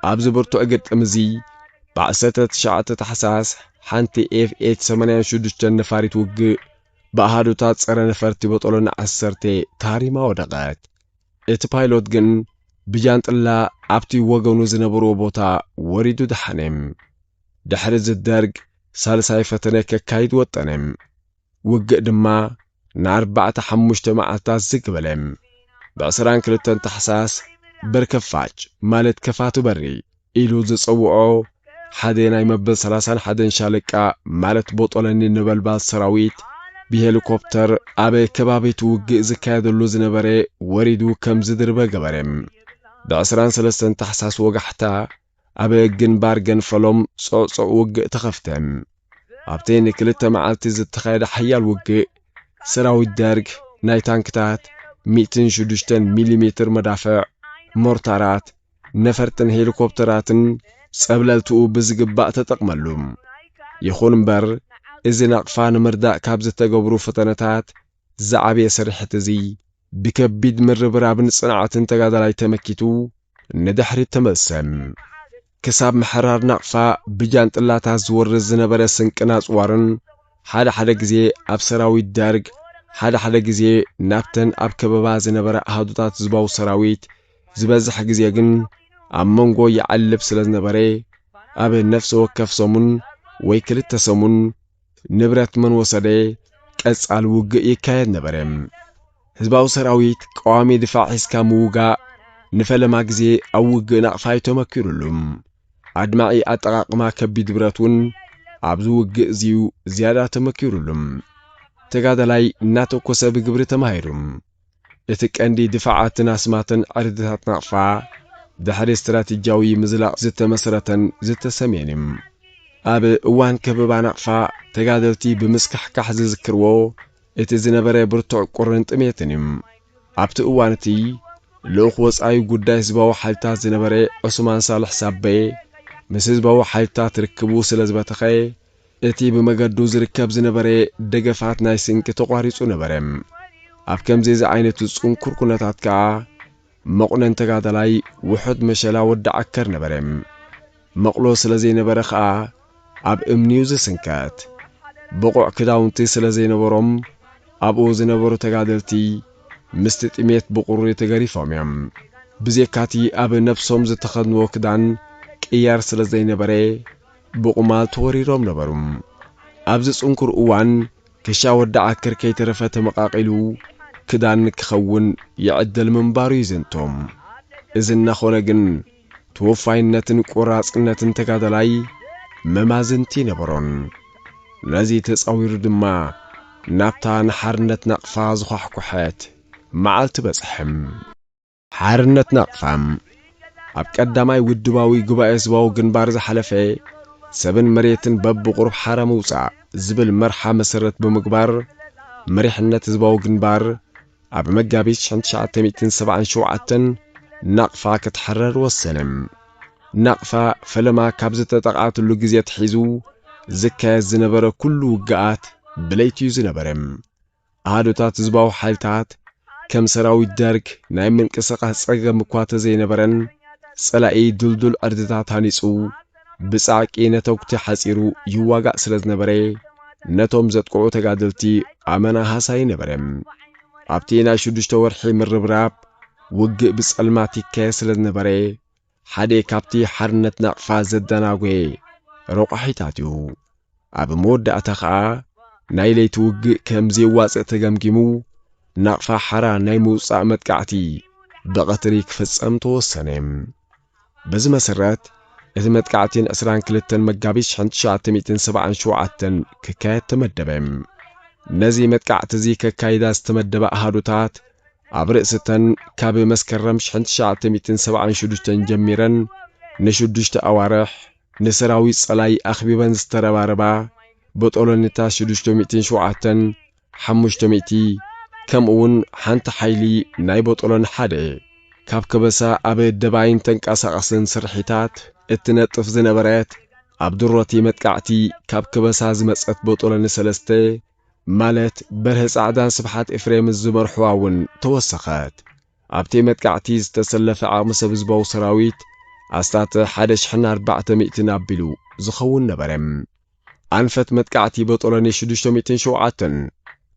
ኣብዚ ብርቱዕ ግጥም እዚ ብዓሰርተ ትሽዓተ ታሕሳስ ሓንቲ ኤፍኤች ሰማንያን ሽዱሽተን ነፋሪት ውግእ ብኣሃዱታት ጸረ ነፈርቲ በጦሎኒ ዓሰርተ ተሃሪማ ወደቐት። እቲ ፓይሎት ግን ብጃንጥላ ኣብቲ ወገኑ ዝነበርዎ ቦታ ወሪዱ ደሓነ። ድሕርዚ ደርግ ሳልሳይ ፈተነ ከካይድ ወጠነ። ውግእ ድማ ንኣርባዕተ ሓሙሽተ መዓልታት ዝግ በለ። ብዕስራን ክልተን ታሕሳስ በርከፋጭ ማለት ከፋቱ በሪ ኢሉ ዝጸውዖ ሓደ ናይ መበል ሰላሳን ሓደን ሻለቃ ማለት ቦጦለኒ ነበልባል ሰራዊት ብሄሊኮፕተር ኣብ ከባቢቲ ውግእ ዝካየደሉ ዝነበረ ወሪዱ ከም ዝድርበ ገበረ። ብዕስራን ሰለስተን ታሕሳስ ወጋሕታ ኣብ ግንባር ገንፈሎም ጾዕጾዕ ውግእ ተኸፍተ። ኣብቲ ንክልተ መዓልቲ ዝተኻየደ ሓያል ውግእ፣ ሰራዊት ደርግ ናይ ታንክታት፣ ሚእትን ሽዱሽተን ሚሊሜትር መዳፍዕ፣ ሞርታራት፣ ነፈርትን ሄሊኮፕተራትን ጸብለልትኡ ብዝግባእ ተጠቕመሉ። ይኹን እምበር፣ እዚ ናቕፋ ንምርዳእ ካብ ዝተገብሩ ፈተነታት ዝዓበየ ስርሒት እዚ ብከቢድ ምርብራብን ጽንዓትን ተጋዳላይ ተመኪቱ ንድሕሪት ተመልሰ። ክሳብ ምሕራር ናቕፋ ብጃንጥላታት ዝወርድ ዝነበረ ስንቅን ኣጽዋርን ሓደ ሓደ ግዜ ኣብ ሰራዊት ደርግ ሓደ ሓደ ግዜ ናብተን ኣብ ከበባ ዝነበራ ኣሃዱታት ህዝባዊ ሰራዊት ዝበዝሕ ግዜ ግን ኣብ መንጎ ይዓልብ ስለ ዝነበረ ኣብ ነፍሲ ወከፍ ሰሙን ወይ ክልተ ሰሙን ንብረት መን ወሰደ? ቀጻሊ ውግእ ይካየድ ነበረ። ህዝባዊ ሰራዊት ቀዋሚ ድፋዕ ሒዝካ ምውጋእ ንፈለማ ግዜ ኣብ ውግእ ናቕፋ እዩ ተመኪሩሉ። ኣድማዒ ኣጠቓቕማ ከቢድ ብረት እውን ኣብዚ ውግእ እዚዩ ዝያዳ ተመኪሩሉ። ተጋዳላይ እናተኮሰ ብግብሪ ተማሂሩ። እቲ ቀንዲ ድፋዓትን ኣስማትን ዕርድታት ናቕፋ ድሕሪ ስትራቴጂያዊ ምዝላቕ ዝተመስረተን ዝተሰምየን እዩ። ኣብ እዋን ከበባ ናቕፋ ተጋደልቲ ብምስካሕካሕ ዝዝክርዎ እቲ ዝነበረ ብርቱዕ ቁርን ጥሜትን እዩ። ኣብቲ እዋን እቲ ልኡኽ ወጻኢ ጉዳይ ህዝባዊ ሓይልታት ዝነበረ ዑስማን ሳልሕ ሳቤ ምስ ህዝባዊ ሓይልታት ርክቡ ስለዝበተኸ እቲ ብመገዱ ዝርከብ ዝነበረ ደገፋት ናይ ስንቂ ተቋሪጹ ነበረ። ኣብ ከምዚ ዝዓይነቱ ጽንኩር ኩነታት ከኣ መቑነን ተጋዳላይ ውሑድ መሸላ ወዲ ዓከር ነበረ። መቕሎ ስለ ዘይነበረ ከኣ ኣብ እምኒ'ዩ ዝስንከት። ብቑዕ ክዳውንቲ ስለ ዘይነበሮም ኣብኡ ዝነበሩ ተጋደልቲ ምስቲ ጥሜት ብቑሪ ተገሪፎም'ዮም። ብዜካቲ ኣብ ነብሶም ዝተኸድንዎ ክዳን ቅያር ስለ ዘይነበረ ብቑማል ተወሪሮም ነበሩ። ኣብዚ ጽንኩር እዋን ክሻ ወዲ ዓክር ከይተረፈ ተመቓቒሉ ክዳን ክኸውን ይዕደል ምንባሩ ይዝንቶ። እዚ እናኾነ ግን ተወፋይነትን ቆራጽነትን ተጋዳላይ መማዝንቲ ነበሮን። ነዚ ተጻዊሩ ድማ ናብታ ንሓርነት ናቕፋ ዝዃሕኩሐት መዓልቲ በጽሐ። ሓርነት ናቕፋ ኣብ ቀዳማይ ውድባዊ ጉባኤ ህዝባዊ ግንባር ዝሓለፈ ሰብን መሬትን በብቑሩብ ሓራ ምውጻእ ዝብል መርሓ መሰረት ብምግባር መሪሕነት ህዝባዊ ግንባር ኣብ መጋቢት ሽሕን ትሽዓተ ሚእትን ሰብዓን ሸውዓተን ናቕፋ ክትሕረር ወሰነ። ናቕፋ ፈለማ ካብ ዝተጠቕዓትሉ ግዜ ኣትሒዙ ዝካየድ ዝነበረ ኩሉ ውግኣት ብለይቲ'ዩ ዝነበረ። ኣሃዱታት ህዝባዊ ሓይልታት ከም ሰራዊት ደርግ ናይ ምንቅስቓስ ጸገም እኳ ተዘይነበረን፣ ጸላኢ ድልዱል ዕርድታት ሃኒጹ ብጻዕቂ ነተጉቲ ሓጺሩ ይዋጋእ ስለ ዝነበረ፣ ነቶም ዘጥቅዑ ተጋደልቲ ኣመና ሃሳዪ ነበረ። ኣብቲ ናይ ሽዱሽተ ወርሒ ምርብራብ፣ ውግእ ብጸልማት ይካየድ ስለ ዝነበረ፣ ሓደ ካብቲ ሓርነት ናቕፋ ዘደናጎየ ረቋሒታት እዩ። ኣብ መወዳእታ ከኣ ናይ ለይቲ ውግእ ከም ዘየዋጽእ ተገምጊሙ ናቕፋ ሓራ ናይ ምውጻእ መጥቃዕቲ ብቐትሪ ክፍጸም ተወሰነ። በዚ መሰረት እቲ መጥቃዕቲ ን ዕስራን ክልተን መጋቢት ሽሕን ትሽዓተ ሚእትን ሰብዓን ሸውዓተን ክካየድ ተመደበ። ነዚ መጥቃዕቲ እዚ ከካይዳ ዝተመደባ ኣሃዱታት ኣብ ርእሲ'ተን ካብ መስከረም ሽሕን ትሽዓተ ሚእትን ሰብዓን ሸዱሽተን ጀሚረን ንሽዱሽተ ኣዋርሕ ንሰራዊት ጸላኢ ኣኽቢበን ዝተረባረባ በጦሎኒታት ሽዱሽተ ሚእትን ሸውዓተን ሓሙሽተ ሚእቲ ከምኡ'ውን ሓንቲ ሓይሊ ናይ በጦሎኒ ሓደ ካብ ከበሳ ኣብ ደባይን ተንቀሳቓስን ስርሒታት እትነጥፍ ዝነበረት ኣብ ድሮቲ መጥቃዕቲ ካብ ከበሳ ዝመጸት በጦሎኒ ሰለስተ ማለት በርሀ ጻዕዳን ስብሓት ኤፍሬምን ዝመርሕዋ እውን ተወሰኸት። ኣብቲ መጥቃዕቲ ዝተሰለፈ ዓቕሚ ሰብ ህዝባዊ ሰራዊት ኣስታት ሓደ ሽሕን ኣርባዕተ ሚእትን ኣቢሉ ዝኸውን ነበረ። ኣንፈት መጥቃዕቲ ቦጦሎኒ ሽዱሽተ ሚእትን ሸውዓተን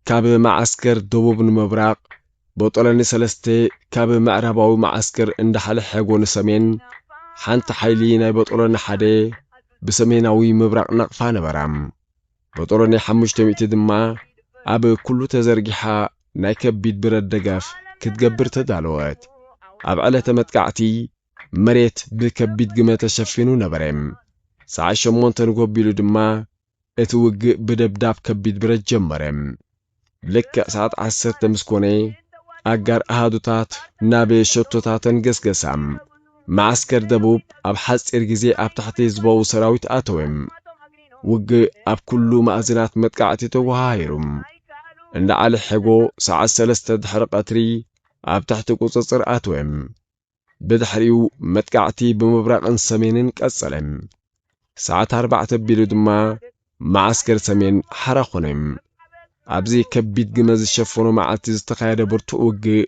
ካብ መዓስከር ደቡብ ንምብራቕ፣ ቦጦሎኒ ሰለስተ ካብ ምዕራባዊ መዓስከር እንዳ ሓለሐጎ ንሰሜን፣ ሓንቲ ሓይሊ ናይ ቦጦሎኒ ሓደ ብሰሜናዊ ምብራቕ ናቕፋ ነበራ። መጦሎኒ ሓሙሽተ ሚእቲ ድማ ኣብ ኩሉ ተዘርጊሓ ናይ ከቢድ ብረት ደጋፍ ክትገብር ተዳለወት። ኣብ ዕለተ መጥቃዕቲ መሬት ብከቢድ ግመ ተሸፊኑ ነበረ። ሰዓት ሸሞንተ ንጎሆ ኣቢሉ ድማ እቲ ውግእ ብደብዳብ ከቢድ ብረት ጀመረ። ልክዕ ሰዓት ዓሰርተ ምስ ኮነ ኣጋር ኣሃዱታት ናብ ሸቶታተን ገስገሳ። መዓስከር ደቡብ ኣብ ሓጺር ግዜ ኣብ ትሕቲ ህዝባዊ ሰራዊት ኣተወ። ውግእ ኣብ ኩሉ ማእዝናት መጥቃዕቲ ተወሃሂሩ። እንዳ ዓሊ ሐጎ ሰዓት ሰለስተ ድሕሪ ቀትሪ ኣብ ትሕቲ ቁጽጽር ኣተወ። ብድሕሪኡ መጥቃዕቲ ብምብራቕን ሰሜንን ቀጸለ። ሰዓት ኣርባዕተ ኣቢሉ ድማ መዓስከር ሰሜን ሓራ ኾነ። ኣብዚ ከቢድ ግመ ዝሸፈኖ መዓልቲ ዝተኻየደ ብርቱዕ ውግእ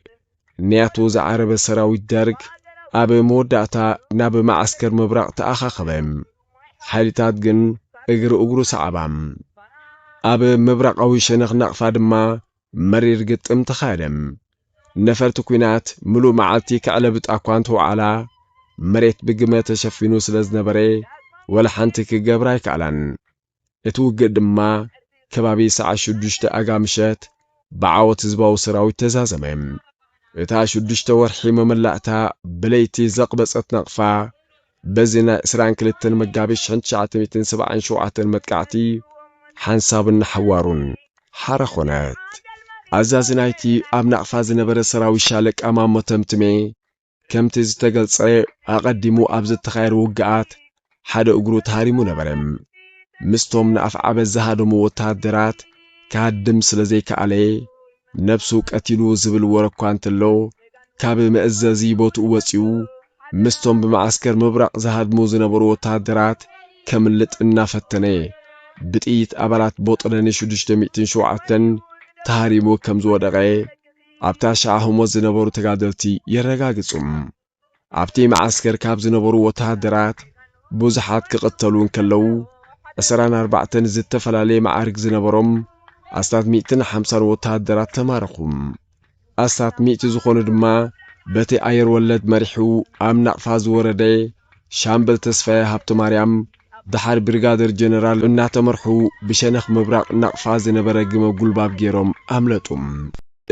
ንያቶ ዝዓረበ ሰራዊት ደርግ ኣብ መወዳእታ ናብ መዓስከር ምብራቕ ተኣኻኸበ። ሓይልታት ግን እግሪ እግሩ ሰዓባ። ኣብ ምብራቓዊ ሸነኽ ናቕፋ ድማ መሪር ግጥም ተኻየደ። ነፈርቲ ኲናት ምሉእ መዓልቲ ከዕለብጣ እኳ እንተወዓላ፣ መሬት ብግመ ተሸፊኑ ስለ ዝነበረ ወላ ሓንቲ ክገብራ ኣይከኣላን። እቲ ውግእ ድማ ከባቢ ሰዓት ሽዱሽተ ኣጋ ምሸት ብዓወት ህዝባዊ ሰራዊት ተዛዘመ። እታ ሽዱሽተ ወርሒ መመላእታ ብለይቲ ዘቕበጸት ናቕፋ በዚ ናይ ዕስራን ክልተን መጋቢት ሽሕን ትሽዓተ ሚእትን ሰብዓን ሸውዓተን መጥቃዕቲ ሓንሳብን ንሓዋሩን ሓራ ኮነት። ኣዛዚ ናይቲ ኣብ ናቕፋ ዝነበረ ሰራዊት ሻለቃ ማሞ ተምትሜ ከምቲ ዝተገልጸ ኣቐዲሙ ኣብ ዝተኻየሩ ውግኣት ሓደ እግሩ ተሃሪሙ ነበረ። ምስቶም ንኣፍዓበት ዝሃደሙ ወተሃደራት ክሃድም ስለ ዘይከኣለ ነብሱ ቀቲሉ ዝብል ወረ እኳ እንተሎ፣ ካብ መእዘዚ ቦትኡ ወጺኡ ምስቶም ብመዓስከር ምብራቕ ዝሃድሙ ዝነበሩ ወተሃደራት ከምልጥ እናፈተነ፣ ብጥይት ኣባላት ቦጦሎኒ ሽዱሽተ ሚእትን ሸውዓተን ተሃሪሙ ከምዝወደቐ ኣብታ ሻዓ ህሞት ዝነበሩ ተጋደልቲ የረጋግጹ። ኣብቲ መዓስከር ካብ ዝነበሩ ወተሃደራት ብዙሓት ክቕተሉ እንከለዉ፣ ዕስራን ኣርባዕተን ዝተፈላለየ መዓርግ ዝነበሮም ኣስታት ሚእትን ሓምሳን ወተሃደራት ተማረኹ። ኣስታት ሚእቲ ዝኾኑ ድማ በቲ ኣየር ወለድ መሪሑ ኣብ ናቕፋ ዝወረደ ሻምበል ተስፋየ ሃብተማርያም ደሓር ብሪጋደር ጀነራል እናተመርሑ ብሸነኽ ምብራቕ ናቕፋ ዝነበረ ግመ ጉልባብ ገይሮም ኣምለጡ።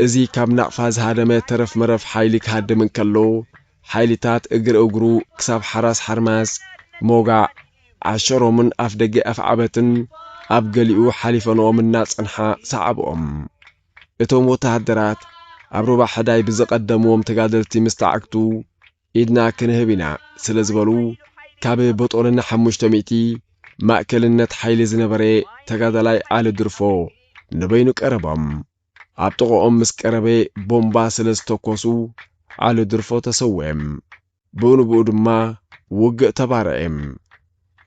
እዚ ካብ ናቕፋ ዝሃደመ ተረፍ መረፍ ሓይሊ ክሃድም እንከሎ ሓይሊታት እግር እግሩ ክሳብ ሓራስ ሓርማዝ፣ ሞጋዕ፣ ዓሸሮምን ኣፍደገ ኣፍዓበትን ኣብ ገሊኡ ሓሊፈንኦም እናጸንሓ ሰዓብኦም። እቶም ወተሃደራት ኣብ ሩባ ሕዳይ ብዝቐደምዎም ተጋደልቲ ምስ ተዓግቱ ኢድና ክንህብ ኢና ስለ ዝበሉ ካብ በጦልና ሓሙሽተ ሚእቲ ማእከልነት ሓይሊ ዝነበረ ተጋዳላይ ዓሊ ድርፎ ንበይኑ ቀረቦም። ኣብ ጥቕኦም ምስ ቀረበ ቦምባ ስለ ዝተኮሱ ዓሊ ድርፎ ተሰዌም። ብኡንብኡ ድማ ውግእ ተባረዔም።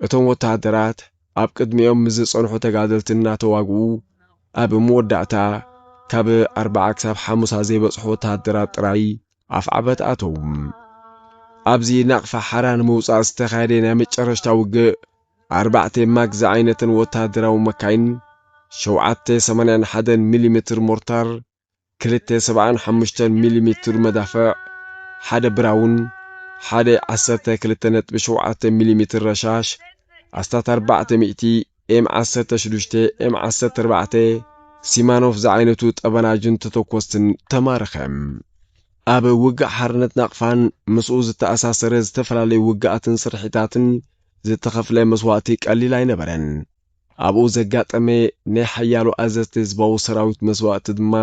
እቶም ወተሃደራት ኣብ ቅድሚኦም ምስ ዝጸንሑ ተጋደልቲ እናተዋግኡ ኣብ መወዳእታ ካብ ኣርብዓ ክሳብ ሓሙሳ ዘይበጽሑ ወተሃደራት ጥራይ ኣፍዓበት ኣተዉ። ኣብዚ ናቕፋ ሓራ ንምውጻእ ዝተኻየደ ናይ መጨረሽታ ውግእ ኣርባዕተ ማግ ዝዓይነተን ወተሃደራዊ መካይን፣ ሸውዓተ ሰማንያን ሓደን ሚሊ ሜትር ሞርታር፣ ክልተ ሰብዓን ሓሙሽተን ሚሊ ሜትር መዳፍዕ፣ ሓደ ብራውን፣ ሓደ ዓሰርተ ክልተ ነጥቢ ሸውዓተ ሚሊ ሜትር ረሻሽ፣ ኣስታት ኣርባዕተ ሚእቲ ኤም ዓሰርተ ሽዱሽተ፣ ኤም ዓሰርተ ኣርባዕተ፣ ሲማኖፍ ዝዓይነቱ ጠበናጁን ተተኮስትን ተማረኸ። ኣብ ውግእ ሓርነት ናቕፋን ምስኡ ዝተኣሳሰረ ዝተፈላለዩ ውግኣትን ስርሒታትን ዝተኸፍለ መስዋእቲ ቀሊል ኣይነበረን። ኣብኡ ዘጋጠመ ናይ ሓያሎ ኣዘዝቲ ህዝባዊ ሰራዊት መስዋእቲ ድማ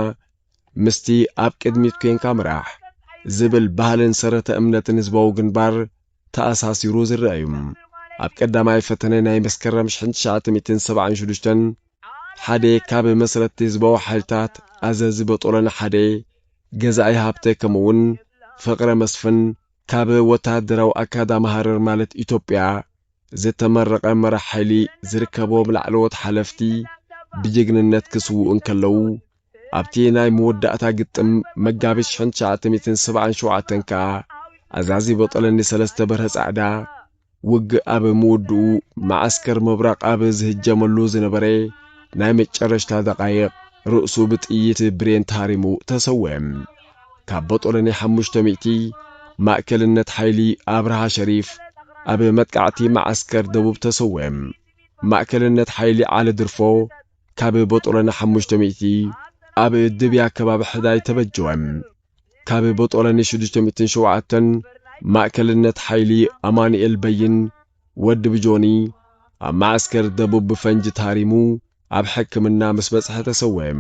ምስቲ ኣብ ቅድሚት ኮንካ ምራሕ ዝብል ባህልን ሰረተ እምነትን ህዝባዊ ግንባር ተኣሳሲሩ ዝረኣ እዩ። ኣብ ቀዳማይ ፈተነ ናይ መስከረም ሽሕን ትሽዓተ ሚእትን ሰብዓን ሽዱሽተን ሓደ ካብ መስረትቲ ህዝባዊ ሓይልታት ኣዘዚ በጦሎኒ ሓደ ገዛኢ ሃብተ ከምኡውን ፍቕረ መስፍን ካብ ወተሃደራዊ ኣካዳሚ ሃረር ማለት ኢትዮጵያ ዝተመረቐ መራሕ ሓይሊ ዝርከቦም ላዕለዎት ሓለፍቲ ብጅግንነት ክስውኡ እንከለዉ ኣብቲ ናይ መወዳእታ ግጥም መጋቢት ሽሕን ትሽዓተ ሚእትን ሰብዓን ሸውዓተን ከኣ ኣዛዚ በጦለኒ ሰለስተ በርሀ ጻዕዳ ውግእ ኣብ ምውድኡ መዓስከር ምብራቕ ኣብ ዝህጀመሉ ዝነበረ ናይ መጨረሽታ ደቓይቕ ርእሱ ብጥይት ብሬን ተሃሪሙ ተሰውኤ። ካብ በጦለኒ ሓሙሽተ ሚእቲ ማእከልነት ሓይሊ ኣብርሃ ሸሪፍ ኣብ መጥቃዕቲ መዓስከር ደቡብ ተሰውኤ። ማእከልነት ሓይሊ ዓሊ ድርፎ፣ ካብ ቦጦሎኒ ሓሙሽተ ሚእቲ ኣብ ድብያ ከባቢ ሕዳይ ተበጀወ። ካብ ቦጦሎኒ ሽዱሽተ ሚእትን ሸውዓተን ማእከልነት ሓይሊ ኣማኑኤል በይን ወዲ ብጆኒ ኣብ መዓስከር ደቡብ ብፈንጂ ተሃሪሙ ኣብ ሕክምና ምስ በጽሐ ተሰወየ።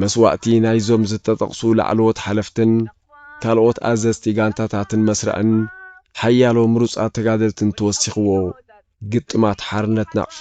መስዋእቲ ናይዞም ዝተጠቕሱ ላዕለዎት ሓለፍትን ካልኦት ኣዘዝቲ ጋንታታትን መስርዕን ሓያሎ ምሩጻት ተጋደልትን ተወሲኽዎ ግጥማት ሓርነት ናቕፋ